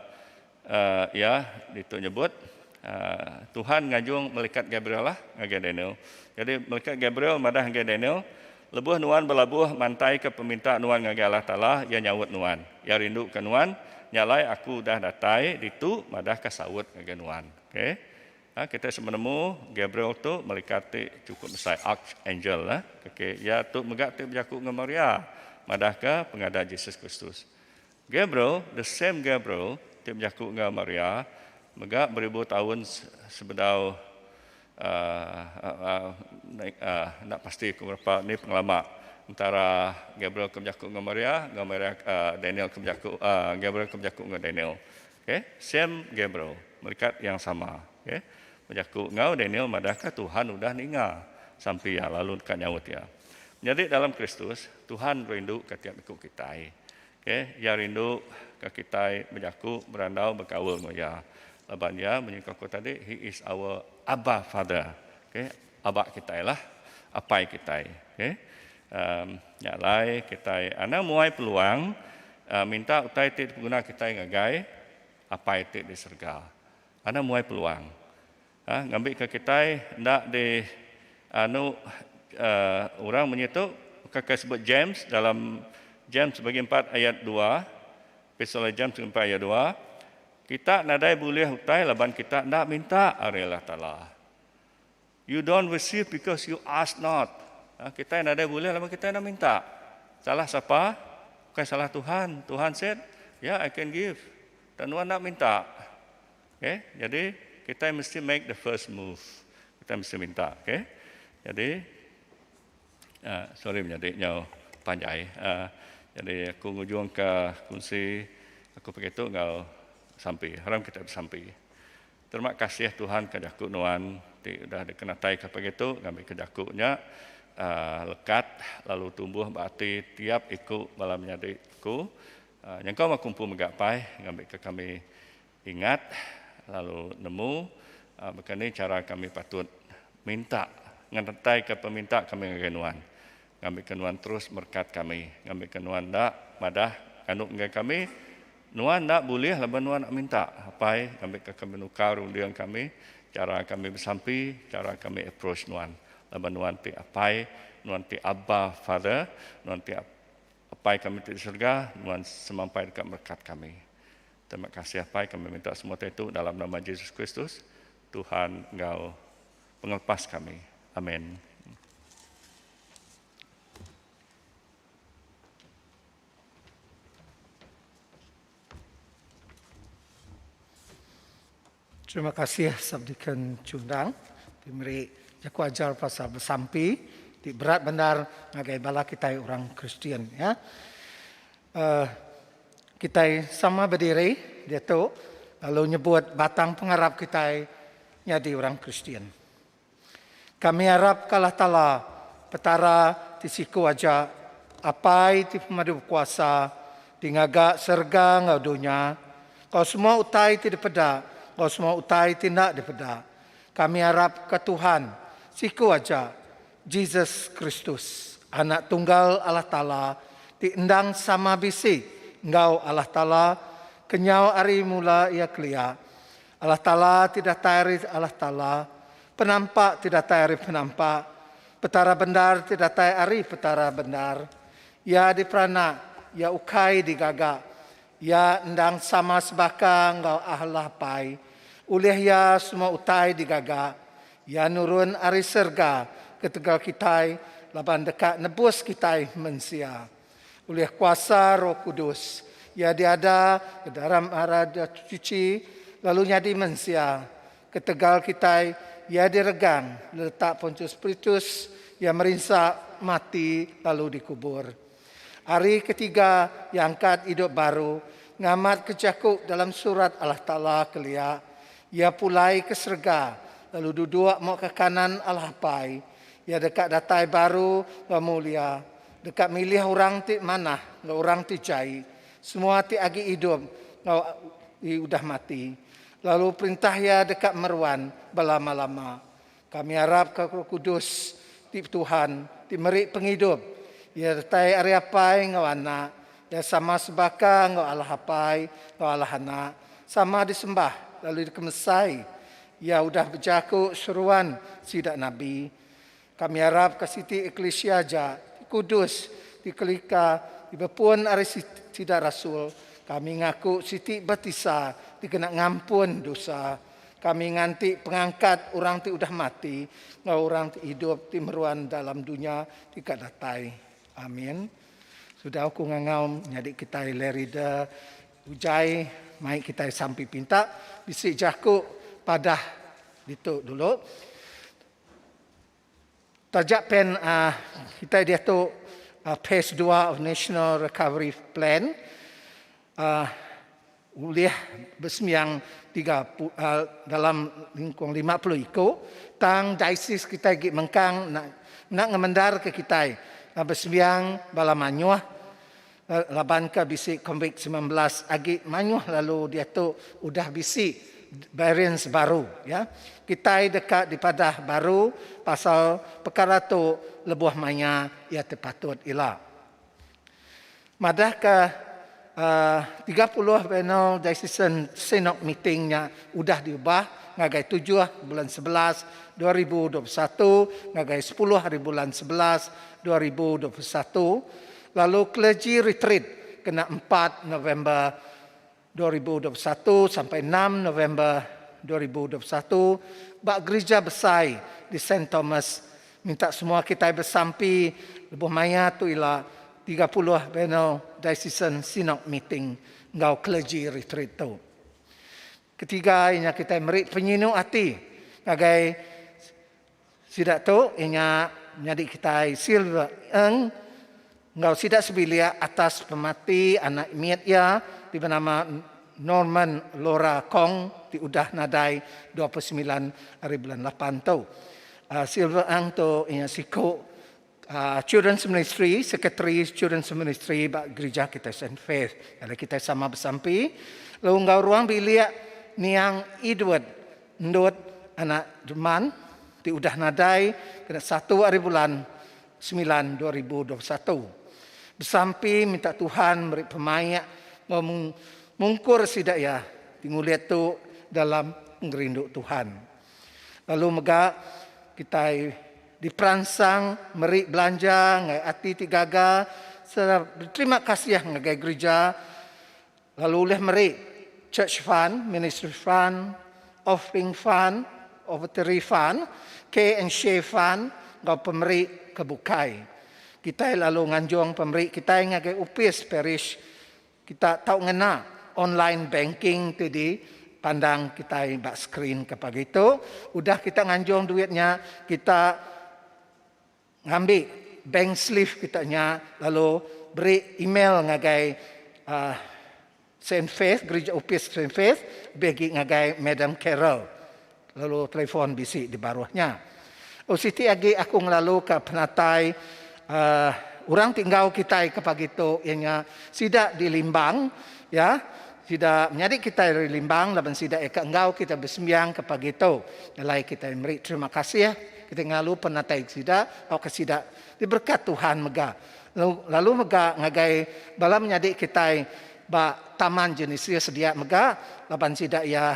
uh, ia ditu nyebut uh, Tuhan ngajung malaikat Gabriel lah ngagai Daniel. Jadi malaikat Gabriel madah ngagai Daniel, Lebuh nuan belabuh mantaika peminta nuan ngagai Allah Taala, Iya nyaut nuan. Iya rinduka nuan, Nya alai aku udah datai ditu madahka saut ngagai nuan. Okay. Ha, kitai sama nemu Gabriel tu melikat ti chukup besai, archangel. Ha. Okay. Iya tu mega ti bejaku enggau Maria madahka pengadah Jesus Kristus. Gabriel, the same Gabriel ti bejaku enggau Maria mega beribu taun sebedau enda pasti ku berepa ni pengelama entara Gabriel ke bejaku enggau Maria enggau Maria Daniel ke bejaku Gabriel ke bejaku enggau Daniel okay same Gabriel melikat yang sama okay bejaku enggau Daniel madah ka Tuhan udah ninga sampi iya lalu deka nyaut iya menyadi dalam Kristus Tuhan rindu ka tiap iku kitai. K, Iya rindu ka kitai bejaku, berandau, bekaul enggau Iya. Laban Iya, menyuka aku tadi, He is our Abba Father. K, Aba kitai lah. Apai kitai. K, nya alai kitai anang muai peluang minta utai ti dipeguna kitai ngagai Apai ti di serega. Anang muai peluang. Hah ngambika kitai enda di anu orang munyi tu ka ke sebut James dalam James bagi empat ayat dua Epistle James bagi empat ayat dua kita nadai bulih utai laban kita enda minta ari Allah Taala you don't receive because you ask not kita nadai bulih laban kita enda minta salah sapa bukai salah Tuhan Tuhan said ya I can give tang nuan enda minta Okay. Jadi kita mesti make the first move. Kita mesti minta. Okay. Jadi, uh, sorry menjadi nyau panjai. Uh, jadi aku ngujung ke kunsi aku pakai tu enggau sampi. Haram kita bersampi. Terima kasih Tuhan ke jaku nuan ti udah dikenatai ke pakai tu ngambil ke jaku nya uh, lekat lalu tumbuh berarti tiap iku bala menyadi aku uh, nyengkau makumpu megapai ngambil ke kami Ingat lalu nemu baka ni chara kami patut minta ngerettaika peminta kami ngagai Nuan. Ngambika Nuan terus merekat kami. Ngambika Nuan enda madah nganu ngagai kami. Nuan enda bulih laban Nuan enda minta. Apai, ngambika kami nukar runding kami, chara kami besampi, chara kami approach Nuan. Laban Nuan ti Apai, Nuan ti Abba Father, Nuan ti Apai kami ti di serega, Nuan semampai deka merekat kami. Terima kasih Apai kami minta semua teh tu dalam nama Jesus Kristus Tuhan enggau pengelepas kami. Amin. Terima kasih Subdeacon Chundang ti meri jaku ajar pasal besampi ti berat bandar ngagai bala kitai orang Kristian ya. Uh, kitai sama bediri diatu lalu nyebut batang pengarap kitai nyadi orang Kristian. Kami arap ka Allah Taala, Petara ti siku aja, Apai ti pemadu bekuasa, ti ngaga serega enggau dunya, enggau semua utai ti dipeda enggau semua utai ti enda dipeda. Kami arap ka Tuhan siku aja, Jesus Kristus, Anak Tunggal Allah Taala ti endang sama bisi enggau Allah Taala kenyau ari mula iya kelia, Allah Taala ti datai ari Allah Taala, penampak ti datai ari penampak, Petara bendar ti datai ari Petara bendar. Iya diperanak, iya ukai digaga. Iya endang sama sebaka enggau Allah Apai. Ulih Iya semua utai digaga. Iya nurun ari serega ketegal kitai laban deka nebus kitai mensia. Ulih kuasa Roh Kudus, iya diada bedaram Arat Suci lalu nyadi mensia. Ketegal kitai, iya diregang diletak Pontius Pritus, iya merinsa, mati, lalu dikubur. Ari ketiga, iya angkat idup baru, ngamat ke jaku dalam Surat Allah Taala kelia, iya pulai ke serega lalu duduk muka kanan Allah Apai. Iya deka datai baru ba mulia, Deka milih orang ti manah enggau orang ti jai, semua ti agi idup enggau ti udah mati, lalu Perintah Iya deka meruan belama-lama. Kami arapka Roh Kudus ti Tuhan ti meri pengidup. Iya retai ari Apai enggau Anak. Iya sama sebaka enggau Allah Apai enggau Allah Anak, sama disembah lalu dikemesai. Iya udah bejaku seruan sida nabi. Kami arapka siti eklisia aja ti kudus, ti kelika, ti bepun ari sida rasul. Kami ngaku siti batisa ti kena ngampun dosa. Kami nganti pengangkat orang ti udah mati enggau orang ti idup ti meruan dalam dunya ti ka datai. Amin. Sudah aku ngangau nyadi kitai Lerida Ujai mai kitai sampi pinta bisi jaku padah ditu dulu. Taja pen kitai diatu phase dua of National Recovery Plan ulih besembiang tiga dalam lingkung lima puluh iku tang diocese kitai agi mengkang enda ngemendarka kitai besembiang bala mayuh Laban ka bisi Covid semilan belas agi mayuh lalu diatu udah bisi variants baru ya. Kitai deka dipadah baru pasal pekara tu lebuh maya iya ti patut ila. Madah ka tiga puluh Bienal Diocesan Synod Meeting nya udah diubah ngagai tujuh bulan sebelas dua ribu dua puluh satu ngagai sepuluh hari bulan sebelas dua ribu dua puluh satu Lalu Clergy Retreat kena empat November dua ribu dua puluh satu sampai enam November dua ribu dua puluh satu ba Gerija Besai di Saint Thomas minta semua kitai besampi lebuh maya tu ila tiga puluh Bienal Diocesan Synod Meeting enggau Clergy Retreat tu. Ketiga iya nya kitai meri penyinu ati ngagai. Sida tu inya nyadi kitai Silver Eung enggau sida sebilik atas pemati anak mit iya ti benama Norman Lora Kong ti udah nadai dua puluh semilan ari bulan lapan tu. Silver Eung tu inya siku. Children's Ministry, Sekretari Children's Ministry ba gerija kitai Saint Faith ari kitai sama besampi lalu enggau ruang bilik niang Edward endut anak Jeman ti udah nadai kena satu ari bulan semilan dua ribu dua puluh satu besampi minta Tuhan meri pemaik enggau mungkur sida iya ti ngulit tu dalam pengerindu Tuhan. Lalu mega kitai diperansang meri belanja enggau ati ti gaga sereta beterima kasih ngagai gerija lalu ulih meri church fund, ministry fund, offering fund, offertory fund, care and share fund enggau pemeri ke bukai. Kitai lalu nganjung pemeri kitai ngagai opis parish Kita tau ngena online banking ti di pandang kitai ba screen ke pagi tu. Udah kita nganjung duit nya, kita ngambi bank slip kita nya lalu beri email ngagai Saint Faith, Gerija Opis Saint Faith lebih agi ngagai Madam Carol. Lalu telefon bisi di baruh nya. Oh siti agi aku ngelalu ka penatai uh, orang ti enggau kitai ke pagi tu iya nya sida di Limbang ya. Sida menyadi kitai dari Limbang laban sida iya ka enggau kitai besembiang ke pagi tu. Alai kitai meri terima kasih kitai ngelalu penatai sida tauka sida diberkat Tuhan mega. Lalu mega ngagai bala menyadi kitai ba Taman Genesia sedia mega laban sida iya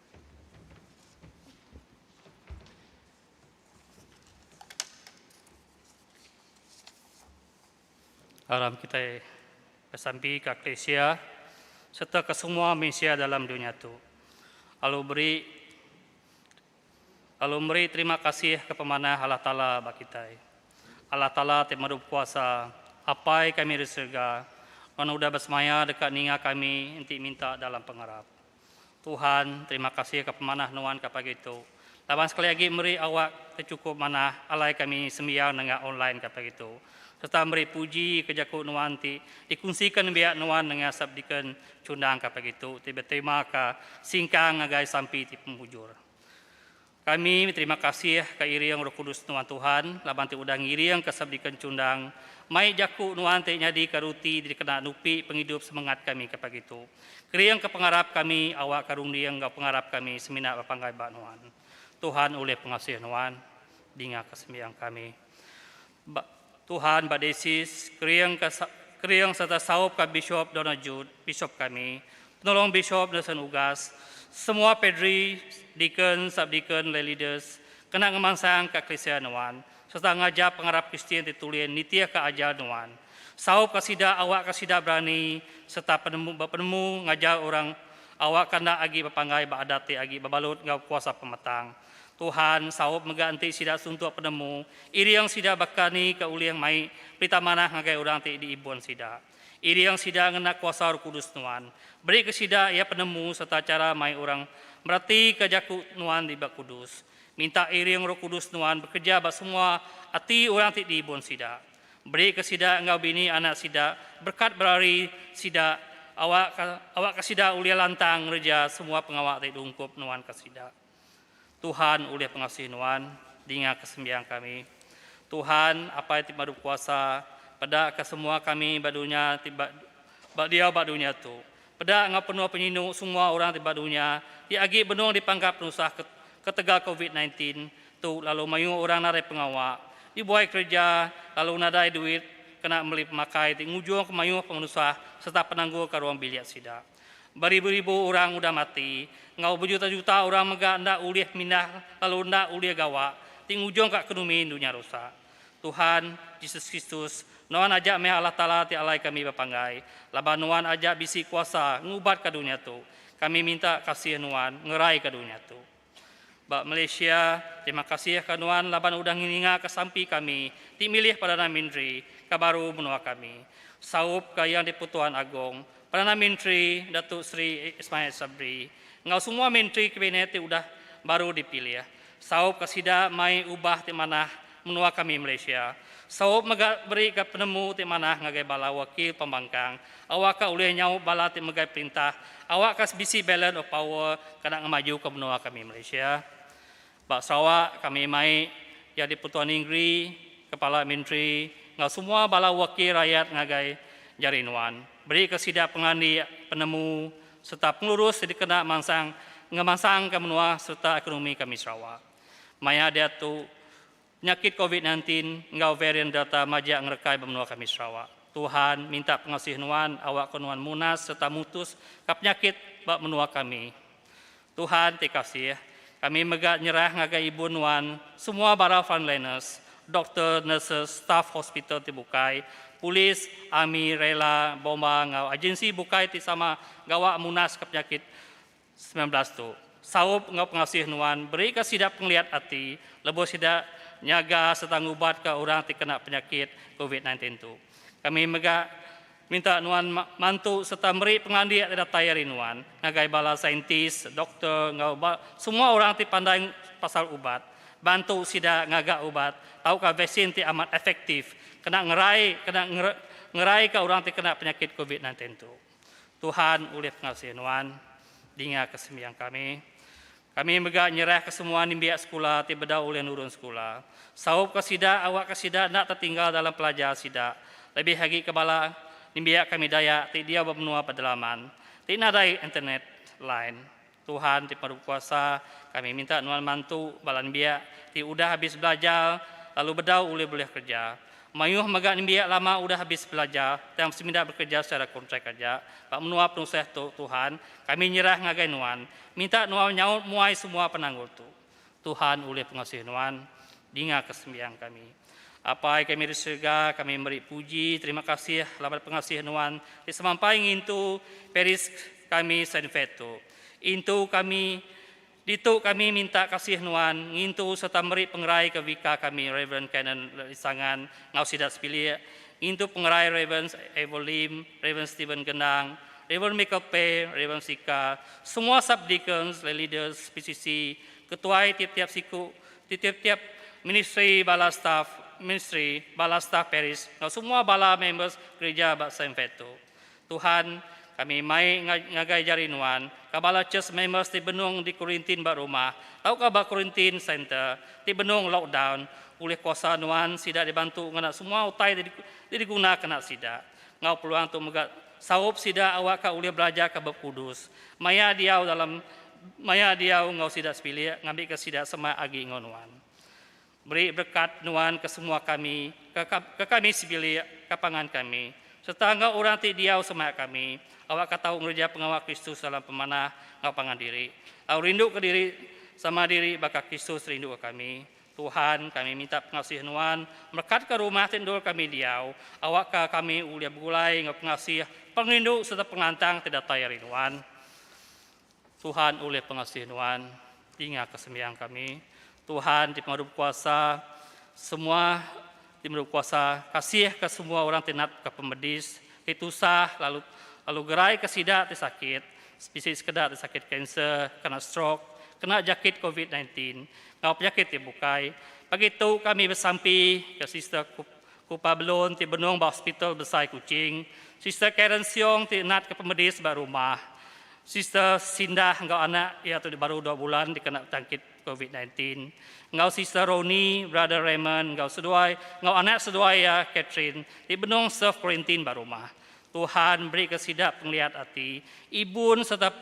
Aram kitai besampi ka Klesia sereta ke semua mensia dalam dunya tu. Alu beri alu meri terima kasih ke pemanah Allah Taala ba kitai. Allah Taala ti Merup Kuasa, Apai kami ri serega, nuan udah besemaya deka ninga kami enti minta dalam pengarap. Tuhan, terima kasih ka pemanah nuan ka pagi tu. Laban sekali agi meri awak ke chukup manah alai kami sembiang nengah online ka pagi tu. Serta meri puji ke jaku nuan ti dikunsi ka nembiak nuan nengah sub deacon chundang ka pagi tu ti beterima ka singkang ngagai sampi ti pemujur. Kami beterima kasih ka iring Roh Kudus nuan Tuhan laban ti udah ngiringka Sabdika Encundang mai jaku nuan ti nyadika ruti ti dikena nupi pengidup semengat kami ke pagi tu. Keringka pengarap kami awakka runding enggau pengarap kami semina bepanggai ba nuan. Tuhan ulih pengasih nuan. Dingaka sembiang kami. Ba Tuhan, ba Deisis, kering ka kering sereta saup ka Bishop Donald Jude, Bishop kami, Penolong Bishop Nelson Ugas, semua Padri, Deacon, Sub-Deacon, Lay Leaders, kena ngemansang ka Kelisia nuan, sereta ngajar pengarap Kristian ti tulin nitih ka ajar nuan. Saup ka sida awak ka sida berani sereta penemu bepenemu ngajar orang awak ka enda agi bepanggai ba adat ti agi bebalut enggau kuasa pemetang. Tuhan saup mega enti sida suntuk penemu, iring sida baka ni ke ulih mai perita manah ngagai orang ti diibun sida. Iring sida ngena kuasa Roh Kudus Nuan, berika sida iya penemu sereta chara mai orang meratika jaku Nuan ti diba kudus. Minta iring Roh Kudus Nuan bekereja ba semua ati orang ti diibun sida. Berika sida enggau bini anak sida berekat berari sida awakka awakka sida ulih lantang ngereja semua pengawa ti diungkup Nuan ka sida. Tuhan ulih pengasuh nuan, dingaka sembiang kami. Tuhan, Apai ti Madu Kuasa, pedaka semua kami ba dunya ti ba, ba diau ba dunya tu. Peda enggau penuh penyinu semua orang ti ba dunya ti agi benung dipangka penusah ketegal Covid 19 tu lalu mayuh orang narai pengawa, dibuai kereja lalu nadai duit kena meli pemakai ti ngujungka mayuh pengenusah sereta penanggulka ruang bilik sida. Beribu-ribu orang udah mati, enggau bejuta-juta orang mega enda ulih mindah lalu enda ulih gawa, ti ngujungka ekonomi dunya rusak. Tuhan, Jesus Kristus, Nuan aja meh Allah Taala ti alai kami bepanggai, laban Nuan aja bisi kuasa ngubatka dunya tu. Kami minta kasih Nuan ngeraika dunya tu. Ba Malaysia, terima kasih ka nuan laban udah ngininga ka sampi kami ti milih Perdana Menteri ka baru menua kami, saup ka Yang di-pertuan Agong Perdana Menteri Datuk Seri Ismail Sabri enggau semua menteri kabinet ti udah baru dipilih saup ka sida mai ubah ti manah Menua kami Malaysia saup mega beri ga penemu ti manah ngagai bala wakil pembangkang awak ka ulih nyaup bala ti megai perintah awak ka sebisi balance of power kena ngemaju ka menua kami Malaysia. Ba Sarawak kami mai jadi Pertua Ningeri, Kepala Menteri enggau semua bala wakil rayat ngagai jari nuan beri ka sida pengelandik, penemu serta pengelurus ti dikena mansang ngemansang ka menua serta ekonomi kami Sarawak. Maya diatu, penyakit Covid nineteen enggau varian Delta majak ngerekai ba menua kami Sarawak. Tuhan minta pengasih nuan awakka nuan munas sereta mutus ka penyakit ba menua kami. Tuhan ti kasih, kami mega nyerah ngagai ibu nuan, semua bala frontliners, doktor, nurses, staf hospital ti bukai, polis, army, rela, bomba enggau agensi bukai ti sama gawa munas ka penyakit semilan belas tu. Saup enggau pengasih nuan berika sida pengeliat ati lebuh sida nyaga sereta ngubatka orang ti kena penyakit covid sembilan belas tu. Kami mega minta nuan mantu sereta meri pengelandik ti datai ari nuan ngagai bala saintis, doktor enggau ba semua orang ti pandai pasal ubat bantu sida ngaga ubat tauka vaksin ti amat efektif kena ngerai kena ngeraika orang ti kena penyakit covid sembilan belas tu. Tuhan ulih ngasih nuan dingaka sembiang kami. Kami mega nyerahka semua nimbiak sekula ti bedau ulih nurun sekula. Saupka sida awakka sida enda tetinggal dalam pelajar sida, lebih agi ke bala nimbiak kami Dayak ti diau ba menua pedalaman ti nadai internet line. Tuhan ti pemadu bekuasa, kami minta nuan mantu bala nembiak ti udah abis belajar lalu bedau ulih bulih kereja. Mayuh mega nembiak lama udah abis belajar tang semina bekereja secara kontrak aja. Ba menua penusah tu, Tuhan, kami nyerah ngagai nuan. Minta nuan nyaut muai semua penanggul tu. Tuhan ulih pengasih Nuan, dingaka sembiang kami. Apai kami di serega, kami meri puji terima kasih laban pengasih Nuan ti semampai ngintu Paris kami Saint-Fed tu. Intu kami ditu kami minta kasih Nuan ngintu sereta meri pengerai ke Vicar kami Rev. Canon Lisangan enggau sida sepilik, ngintu pengerai Rev. Evo Lim, Rev. Steven Gendang, Rev. Michael Pei, Rev. Sika, semua sub-deacons, lay leaders, PCC, ketuai tiap-tiap siku ti tiap-tiap ministri bala staf ministri, bala staf parish enggau semua bala members gerija ba Saint Faith tu. Tuhan, kami mai ngagai jari nuan, ka bala church members ti benung di quarantine ba rumah tauka ba quarantine center ti benung lockdown, ulih kuasa nuan sida dibantu ngena semua utai ti digunakena sida. enggau peluang tu mega saup sida awakka ulih belajarka Bup Kudus, maya diau dalam maya diau enggau sida sebilik ngambika sida semak agi enggau nuan. Beri berekat nuan ke semua kami, ke kami sebilik, ke pangan kami, sereta enggau orang ti diau semak kami awakka tau ngereja pengawa Kristus dalam pemanah enggau pangan diri, lalu rinduka diri sama diri baka Kristus rinduka kami. Tuhan, kami minta pengasih Nuan merekatka rumah ti endur kami diau, awakka kami ulih begulai enggau pengasih, pengerindu sereta pengantang ti datai ari Nuan. Tuhan ulih pengasih Nuan dingaka sembiang kami. Tuhan ti Pengadu Bekuasa, semua. Ti meri kuasa, kasihka semua orang ti natka pemedis, ti tusah lalu lalu geraika sida ti sakit, bisi sekeda ti sakit kanser, kena strok, kena jakit covid nine tin, enggau penyakit ti bukai. Pagi tu kami besampi ke Sister Kupa Belon ti benung ba Hospital Besai Kuching, Sister Karen Siong ti natka pemedis ba rumah, Sister Sindah enggau anak iya tu baru dua bulan dikena jangkit Covid nineteen enggau Sister Roni, Brother Raymond enggau seduai enggau anak seduai iya Catherine ti benung self quarantine ba rumah. Tuhan berika sida pengeliat ati, ibun sereta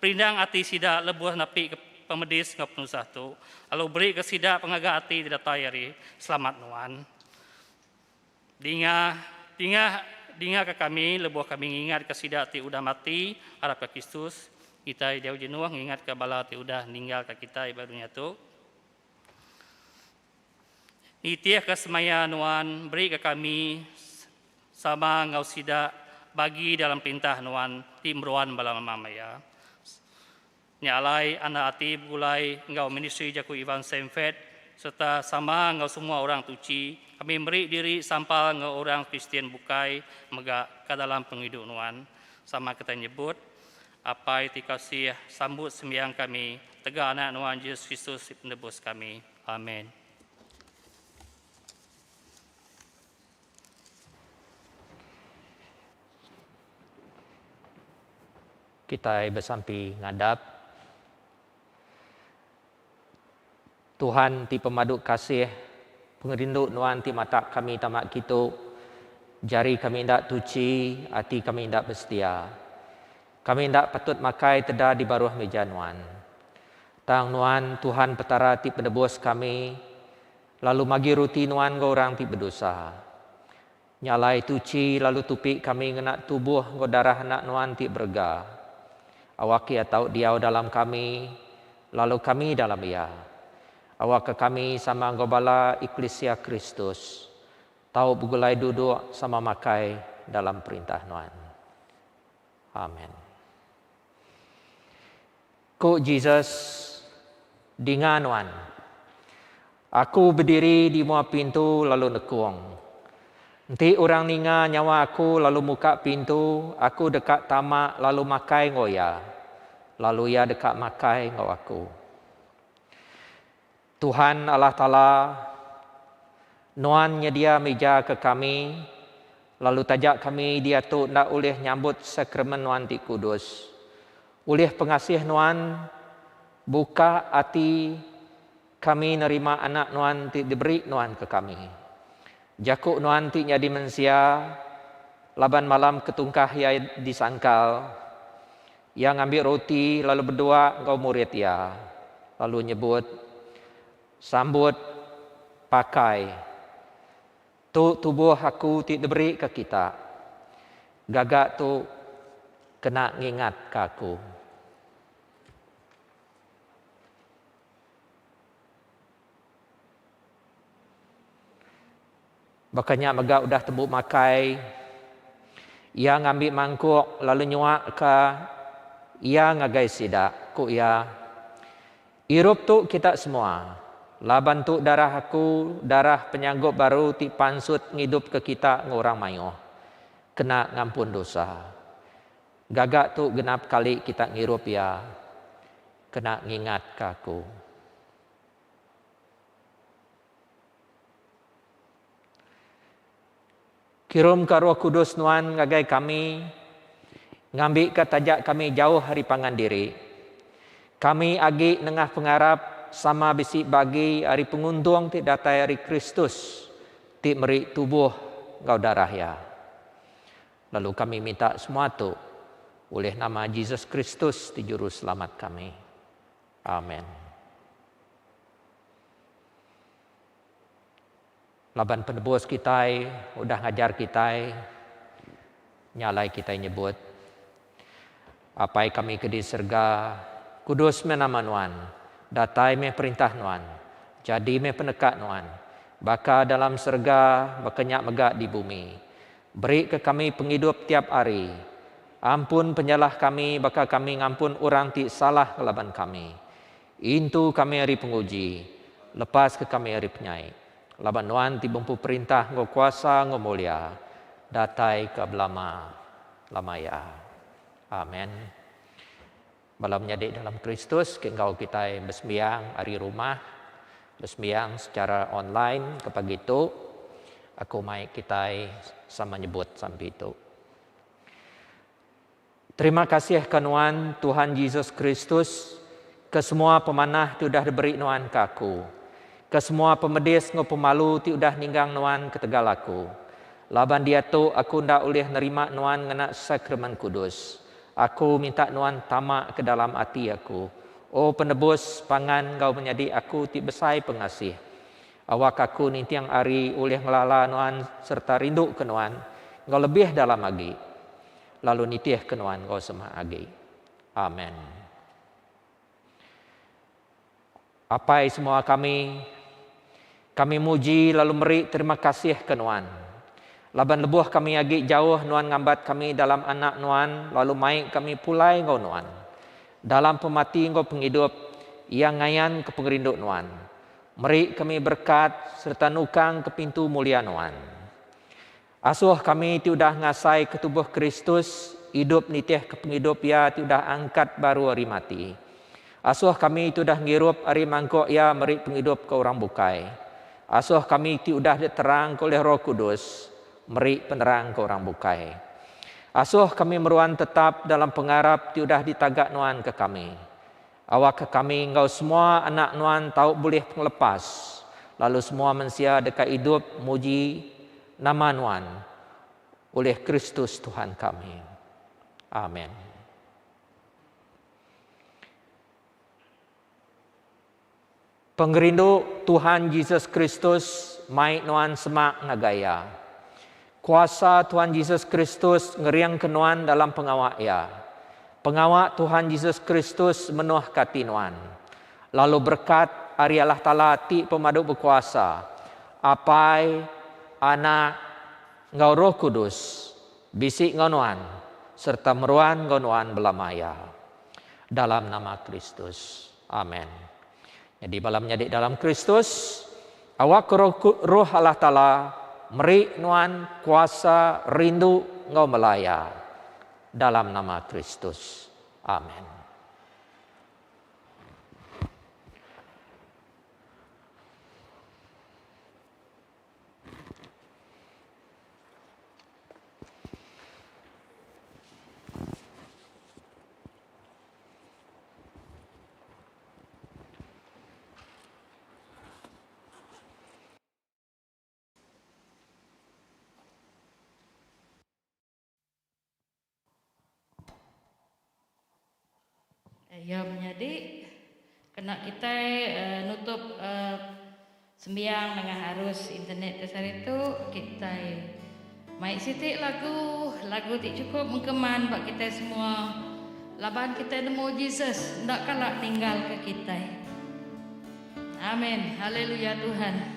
perindang ati sida lebuh nepika pemedis enggau penusah tu, lalu berika sida pengaga ati ti datai ari. Selamat nuan. Dinga, dinga, dingaka kami lebuh kami ngingatka sida ti udah mati arapka Kristus, kitai jauh jenuh ngingatka bala ti udah ninggalka kitai ba dunya tu. Nitihka semaya Nuan berika kami sama enggau sida bagi dalam perintah Nuan ti meruan bala mama maya. Nya alai, anda ati begulai enggau ministri Jaku Iban Sam Fett sereta sama enggau semua orang tuchi, kami meri diri sampal enggau orang Kristian bukai mega ka dalam pengidup nuan. Sama kitai nyebut, Apai ti kasih, sambut sembiang kami tega Anak nuan Jesus Kristus ti Penebus kami. Amen. Kitai besampi ngadap Tuhan ti pemadu kasih, pengerindu Nuan ti matak kami tama kitu, jari kami enda tuchi, ati kami enda besetia. Kami enda patut makai teda di baruh meja Nuan. Tang Nuan Tuhan Petara ti penebus kami, lalu magi ruti Nuan enggau orang ti bedosa. Nya alai tuchi lalu tupi kami ngena tubuh enggau darah Anak Nuan ti berega. Awak Iya tau diau dalam kami, lalu kami dalam Iya. Awakka kami sama enggau bala eklisia Kristus, tau begulai duduk sama makai dalam perintah Nuan. Amen. Ku Jesus, Dinga nuan! Aku bediri di mua pintu lalu nekung. Enti orang ninga nyawa Aku lalu muka pintu, Aku deka tama lalu makai enggau iya, lalu iya deka makai enggau Aku. Tuhan Allah Taala, Nuan nyedia mija ke kami, lalu taja kami diatu enda ulih nyambut Sakramen Nuan ti kudus. Ulih pengasih Nuan, buka ati kami nerima Anak Nuan ti diberi Nuan ke kami. Jaku Nuan ti nyadi mensia, laban malam ke tungkah Iya disangkal, Iya ngambi roti lalu bedua enggau murid iya, lalu nyebut, Sambut, pakai. Tu tubuh aku ti diberi ke kita. Gaga tu kena ngingat ka aku. Baka nya mega udah tembu makai, iya ngambi mangkuk lalu nyuakka iya ngagai sida, ku iya, Irup tu kita semua, laban tu darah aku, darah penyanggup baru ti pansut ngidupka kita enggau orang mayuh, kena ngampun dosa. Gaga tu genap kali kita ngirup iya, kena ngingatka aku. Kirumka Roh Kudus Nuan ngagai kami ngambika taja kami jauh ari pangan diri. Kami agi nengah pengarap sama bisi bagi ari penguntung ti datai ari Kristus ti meri tubuh enggau darah Iya. Lalu kami minta semua tu ulih nama Jesus Kristus ti Juruselamat kami. Amen. Laban penebus kitai udah ngajar kitai, nya alai kitai nyebut, Apai kami ke di serega, kudus meh nama Nuan, datai meh perintah Nuan, jadi meh peneka Nuan, baka dalam serega, baka nya mega di bumi. Beri ke kami pengidup tiap ari. Ampun penyalah kami baka kami ngampun orang ti salah ngelaban kami. Intu kami ari penguji, lepaska kami ari penyai. Laban Nuan ti bempu perintah enggau kuasa enggau mulia, datai ke belama lama iya. Amen. Bala menyadi dalam Kristus ke enggau kitai besembiang ari rumah, besembiang secara online ke pagi tu, aku mai kitai sama nyebut sampi tu. Terima kasih ka nuan Tuhan Jesus Kristus ke semua pemanah ti udah diberi nuan ka aku, ke semua pemedis enggau pemalu ti udah ninggang nuan ketegal aku. Laban diatu aku enda ulih nerima nuan ngena Sakramen Kudus. Aku minta nuan tama ke dalam ati aku, O Penebus, pangan enggau menyadi aku ti besai pengasih. Awak aku ninting ari ulih ngelala nuan sereta rinduka nuan enggau lebih dalam agi, lalu nitihka nuan enggau semak agi. Amen. Apai semua kami, kami muji lalu meri terima kasih ke nuan, laban lebuh kami agi jauh nuan ngambat kami dalam anak nuan lalu mai kami pulai enggau nuan. Dalam pemati enggau pengidup, iya ngayanka pengerindu nuan. Meri kami berekat sereta nukang ke pintu mulia Nuan. Asoh kami ti udah ngasai ke tubuh Kristus idup nitih ke pengidup Iya ti udah angkat baru ari mati. Asoh kami ti udah ngirup ari mangkuk Iya meri pengidup ke orang bukai. Asoh kami ti udah diterangka ulih Roh Kudus meri penerang ke orang bukai. Asoh kami meruan tetap dalam pengarap ti udah ditaga Nuan ke kami. Awakka kami enggau semua anak nuan tau bulih pengelepas, lalu semua mensia deka idup muji nama nuan ulih Kristus Tuhan kami. Amen. Pengerindu Tuhan Jesus Kristus mai nuan semak ngagai Iya. Kuasa Tuhan Jesus Kristus ngeringka nuan dalam pengawa Iya. Pengawa Tuhan Jesus Kristus menuhka ati nuan. Lalu berekat ari Allah Taala ti Pemadu Bekuasa, Apai, Anak, enggau Roh Kudus, bisi enggau nuan sereta meruan enggau nuan belama iya. Dalam nama Kristus. Amen. Nyadi bala menyadi dalam Kristus, awak Roh Allah Taala meri nuan kuasa rindu enggau melaya. Dalam nama Kristus. Amen. Iya menyadi kena kitai nutup. Sembiang nengah arus internet ti sehari tu, kitai mai siti lagu. Lagu ti chukup mengkeman ba kitai semua laban kitai nemu Jesus enda kala ninggalka kitai. Amen. Haleluya Tuhan.